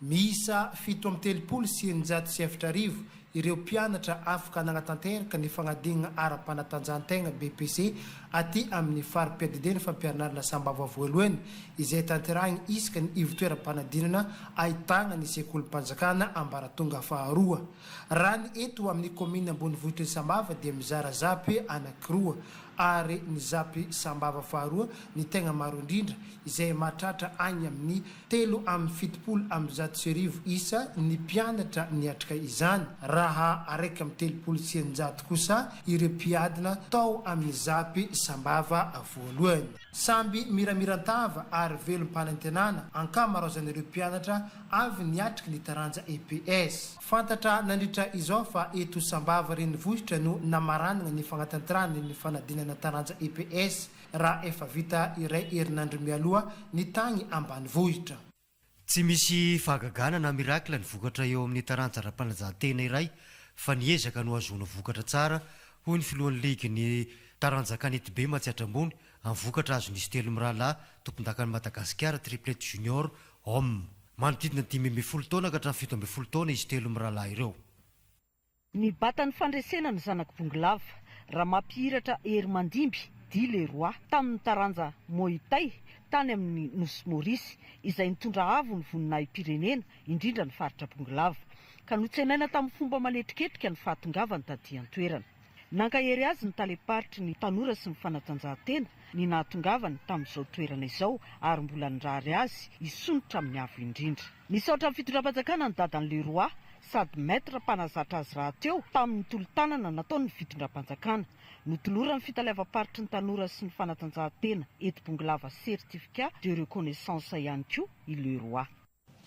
Miisa fito amby telopolo sy eninjato sy efatra arivo ireo mpianatra afaka nanatanteraka ny fanadinana ara-panatanjahantena, BEPC, aty amin'ny fari-piadidiana fampianarana sambava voalohany, izay tanterahina isaka ny ivon-toeram-panadinana ahitana ny sekolim-panjakana ambaratonga faharoa. Raha ny eto amin'ny kaominina ambonivohitry ny Sambava dia mizara zapy anankiroa ary ny zapy Sambava faharoa ny tegna maro indrindra izay mahatratra agny amin'ny telo amby fitopolo amby zato sy arivo isa ny mpianatra niatrika izany raha araiky amby telopolo sy eninjato kosa ireo mpiadina tao amin'ny zapy Sambava voalohany. Samby miramiran-tava ary velom-panantenana ankamaroazan'ireo mpianatra avy niatrika ny taranja EPS. Fantatra nandritra izao fa eto Sambava renivohitra no namaranana ny fanatanterahana ny fanadinana taranja EPS raha efa vita iray herinandro mialoha ny tany ambanivohitra. Tsy misy fahagagana na miracle ny vokatra eo amin'ny taranja ara-panajan-tena iray fa ny ezaka no ahazoana vokatra tsara, hoy ny filohan'ny ligin'ny taranja kanetibe Matsiatra Ambony amin'ny vokatra azon'izy telo mirahalahy tompondakan'i Madagasikara Triplette Junior Homme. Manodidina dimy ambin'ny folo taona ka hatramin'ny fito ambin'ny folo taona izy telo mirahalahy ireo. Nibata ny fandresena ny zanak'i Bongolava, Ramampihiratra Hery Mandimby, dit le Roi, tamin'ny taranja Muay Thai tany amin'ny Nosy Maurice, izay nitondra avo ny voninahim-pirenena, indrindra ny faritra Bongolava, ka notsenaina tamin'ny fomba manetriketrika ny fahatongavany taty an-toerana. Nankahery azy ny talem-paritry ny tanora sy ny fanatanjahantena ny nahatongavany tamin'izao toerana izao ary mbola nirary azy hisondrotra amin'ny avo indrindra. Nisaotra ny fitondram-panjakana ny dadan'i Leroy sady Maître mpanazatra azy rahateo tamin'ny tolo-tanana nataony ny fitondram-panjakana. Notoloran'ny fitaleavam-paritry ny tanora sy ny fanatanjahantena eto Bongolava certificat de reconnaissance ihany koa i Leroy.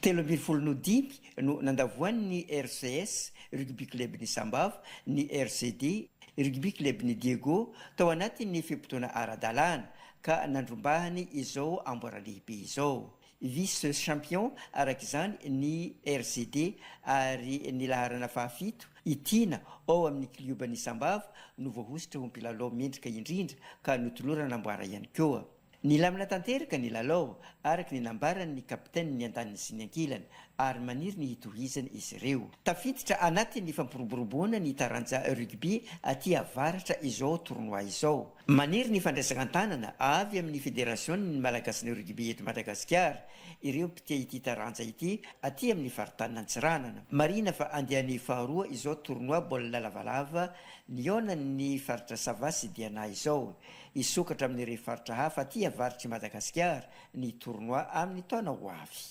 Telo ambin'ny folo no dimy no nandavoan'ny RCS, Rugby Club-n'i Sambava, ny RCD, Rugby Club-n'i Diego, tao anatin'ny fe-potoana ara-dalàna, ka nandrombahany izao amboara lehibe izao. Vice champion araka izany ny RCD ary ny laharana fahafito, i Tiana, ao amin'ny klioban'i Sambava no voahosotra ho mpilalao mendrika indrindra ka notolorana amboara ihany koa. Nilamina tanteraka ny lalao, araka ny nambaran'ny kapitainin'ny andaniny sy ny ankilany, ary maniry ny hitohizana izy ireo. Tafiditra anatin'ny fampiroboroboana ny taranja rugby aty avaratra izao tournoi izao. Maniry ny fandraisana an-tanana avy amin'ny federasion'ny Malagasin'ny rugby eto Madagasikara ireo mpitia ity taranja ity aty amin'ny faritanin' Antsiranana. Marihina fa andiany faharoa izao tournoi baolina lavalava nihaonan'ny faritra Sava sy Diana izao. Hisokatra amin'ireo faritra hafa aty avaritr'i Madagasikara ny tournoi amin'ny taona ho avy.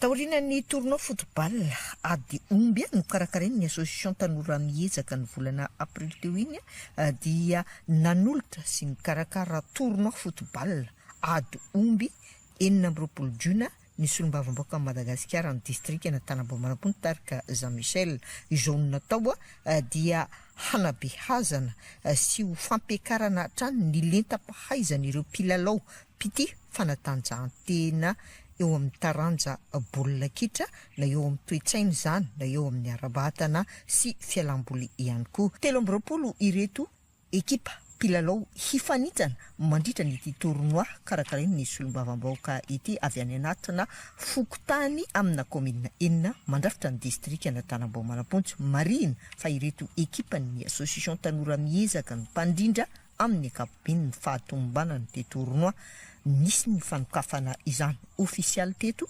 Taorian'ny tournoi football ady omby nokarakarain'ny Association Tanora Miezaka ny volana aprily teo iny dia nanolotra sy nikarakara tournoi football ady omby enina amby roapolo jona ny solombavambahoaka an'i Madagasikara ny distrikan' Antanambaomarampontsy tarika Jean Michel. Izao no natao dia hanabeazana sy ho fampiakarana hatrany ny lentam-pahaizan'ireo mpilalao mpitia fanatanjahantena eo amin'ny taranja baolina kitra na eo amin'ny toe-tsaina izany na eo amin'ny ara-batana sy fialam-boly ihany koa. Telo amby roapolo ireto Ekipa mpilalao hifanintana mandritra ny ity tournoi karakarain'ny solombavambahoaka ity avy any anatina fokontany amina kaominina enina mandrafitra ny distrikan'Antanambao Manampontsy. Marihina fa ireto ekipan'ny Association Tanora Miezaka no mpandrindra amin'ny ankapobeny ny fahatomombanan'ity tournoi. Nisy ny fanokafana izany ofisialy teto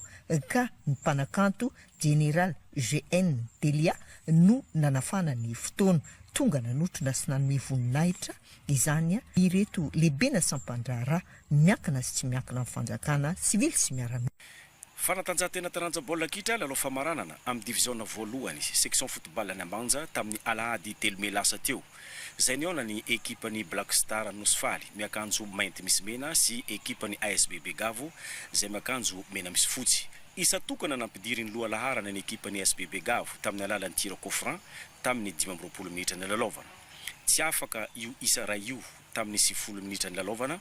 ka ny mpanakanto General GN Delia no nanafana ny fotoana. Tonga nanotrona sy nanome voninahitra izany ireto lehibena sampandraharaha miankina sy tsy miankina amin'ny fanjakana, sivily sy miaramila. Fanatanjahantena taranja baolina kitra lalao famaranana amin'ny diviziona voalohany section football any Ambanja tamin'ny alahady telo mey lasa teo. Izay nihaona ny ekipan'ny Black Star Nosy Faly miakanjo mainty misy mena sy ekipan'ny ASB Begavo izay miakanjo mena misy fotsy. Isa tokana nampidirin'ny loha laharana ny ekipan'ny ASB Begavo tamin'ny alalan'ny tir coup franc tamin'ny dimy amby roapolo minitra nilalaovana. Tsy afaka io isa iray io tamin'ny sivifolo minitra nilalaovana.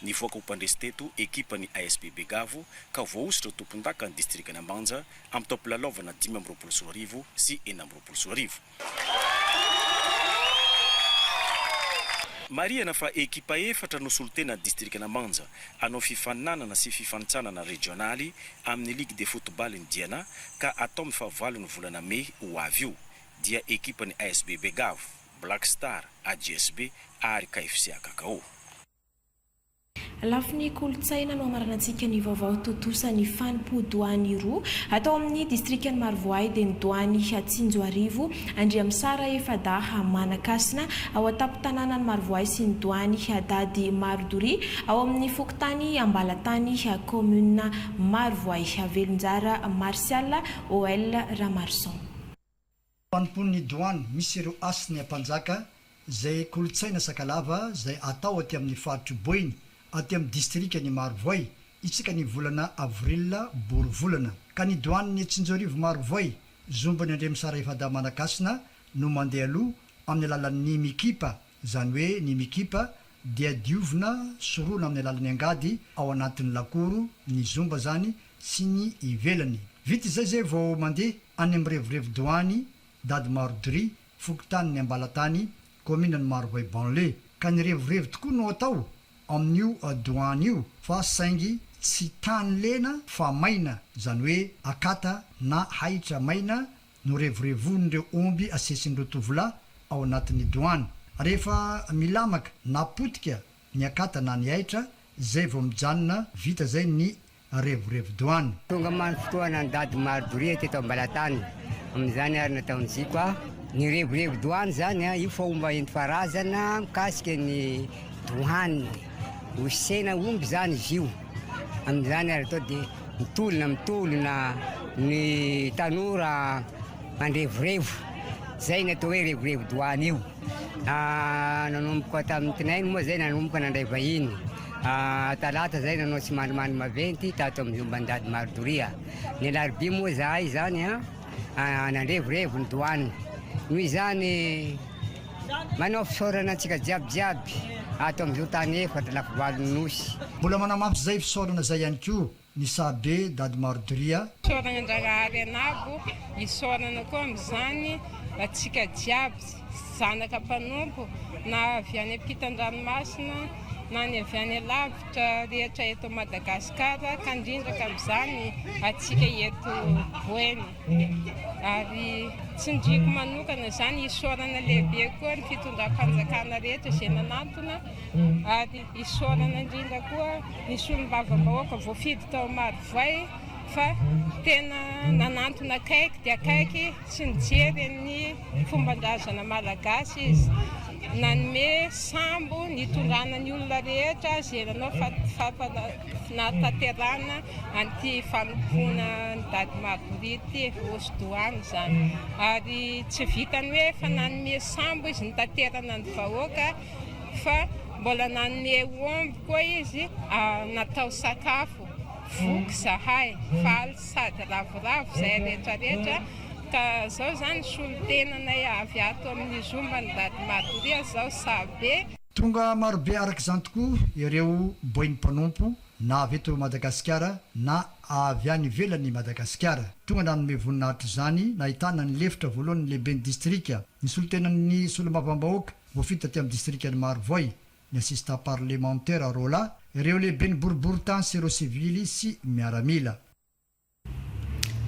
Nivoaka ho mpandresy teto ekipan'ny ASB Begavo ka voahosotra ho tompondaka ny distrikan'Ambanja amin'ny taom-pilalaovana dimy amby roapolo sy roa arivo sy enina amby roapolo sy roa arivo. Marihana fa ekipa efatra no solontena ny distrikan'Ambanja hanao fifaninanana sy fifanintsanana rejionaly amin'ny Ligue de football ny Diana ka atao amin'ny fahavalon'ny volana mey ho avy io dia ekipan'ny ASB Begavo, Black Star, AJSB ary KFC Akakao. Lafiny kolontsaina no hamaranantsika ny vaovao tontosa ny fanompoan-doany roa atao amin'ny distrikan'i Marovoay dia ny doany Hatsinjoarivo Andriamisara Efadaha Manakasina ao an-tampon-tanànan'i Marovoay sy ny doany Hadady Marodoria ao amin'ny fokontany Ambalatany kaominina Marovoay Velonjara Martial OL Ramaroson. Mpanompon'ny Douane misy ireo Hasina Mpanjaka izay kolontsaina Sakalava izay atao aty amin'ny faritr'i Boeny aty amin'ny distrikan'i Marovoay isaka ny volana Avril, boro volana, ka ny Douane Tsinjoarivo Marovoay zomban'ny Andriamisara Efadaha Manankasina no mandeha aloha amin'ny alalan'ny mikipa izany hoe ny mikipa, dia diovina, sorona amin'ny alalan'ny angady ao anatin'ny lakoro, ny zomba izany, sy ny ivelany. Vita izay izay vao mandeha any amin'ny revirevi-doany Dady Marodry, fokontanin'i Ambalatany, kaominan'i Marovoay Banlieue. Ka ny revirevy tokoa no atao amin'io doany io fa saingy tsy tany lena fa maina, izany hoe akata na ahitra maina norevorevon'ireo omby asesin'ireo tovolahy ao anatin'ny doany. Rehefa milamaka na potika ny akata na ny aitra, izay vao mijanona vita izay ny revorevo-doany. Tonga many fotoa nandady maro doria teto Ambalatany. Amin'izany ary nataon'i Ziko a. Ny revorevo-doany izany a, io fomba enti-paharazana mikasika ny doany. Osena omby izany izy io. Amin'izany ary atao dia. Mitolona mitolona ny tanora mandrevorevo, izay no atao hoe revorevo-doany io. Nanomboka tamin'ny tinainy moa izay nanomboka nandray vahiny. Talata izay nanao tsimandrimandry maventy tato amin'ny omban-dady Maridoria. Ny alarobia moa izahay izany nandrevorevo ny doany. Noho izany Manao fisaorana antsika jiaby jiaby ato amin'izao tany efatra lafivalon'ny Nosy. Mbola manamafy zay fisaorana zay ihany koa ny saha be dady Mardoria. Isaorana an-dRarahary anabo, isaorana koa amin'izany antsika jiaby zanaka mpanompo na avy any ampitan-dranomasina na ny avy any alavitra rehetra eto Madagascar ka indrindra ka amin'izany antsika eto Boeny. ary tsindriako manokana izany isaorana lehibe koa ny fitondram-panjakana rehetra izay nanantona ary isaorana indrindra koa ny solombavambahoaka voafidy tao Marovoay fa tena nanantona akaiky dia akaiky sy nijery ny fomban-drazana malagasy izy nanome sambo nitondrana ny olona rehetra izay nanao Tsy nahatanterahana an'ity fanompoana an'i Dady Margory ity hosodòhany izany. Ary tsy vitan'ny hoe efa nanome sambo izy nitaterana ny vahoaka fa mbola nanome omby koa izy natao sakafo. Voky izahay, faly sady ravoravo izahay rehetra rehetra ka izao izany solontenanay avy ato amin'ny Zomban'i Dady Margory izao sahy be. Tonga marobe araka izany tokoa ireo boin'ny mpanompo na avy eto Madagasikara na avy any ivelan'i Madagasikara. Tonga nanome voninahitra izany nahitana ny lefitra voalohan'ny lehiben'ny distrika, ny solontenan'ny solombavambahoaka voafidy taty amin'ny distrikan'i Marovoay, ny assistant parlemantera roa lahy, ireo lehiben'ny boriborintany sy ireo sivily sy miaramila.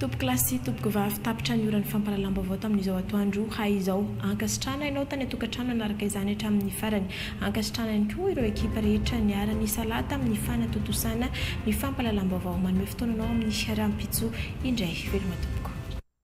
Tompoko lahy sy tompoko vavy tapitra ny oran'ny fampahalalam-baovao tamin'izao atoandro hay izao. Ankasitrahana ianao tany an-tokantrano nanaraka izany hatramin'ny farany. Ankasitrahana ihany koa ireo ekipa rehetra niara-nisalahy tamin'ny fanatontosana ny fampahalalam-baovao. Manome fotoananao amin'ny fiaraha-mpitso indray veloma tompoko.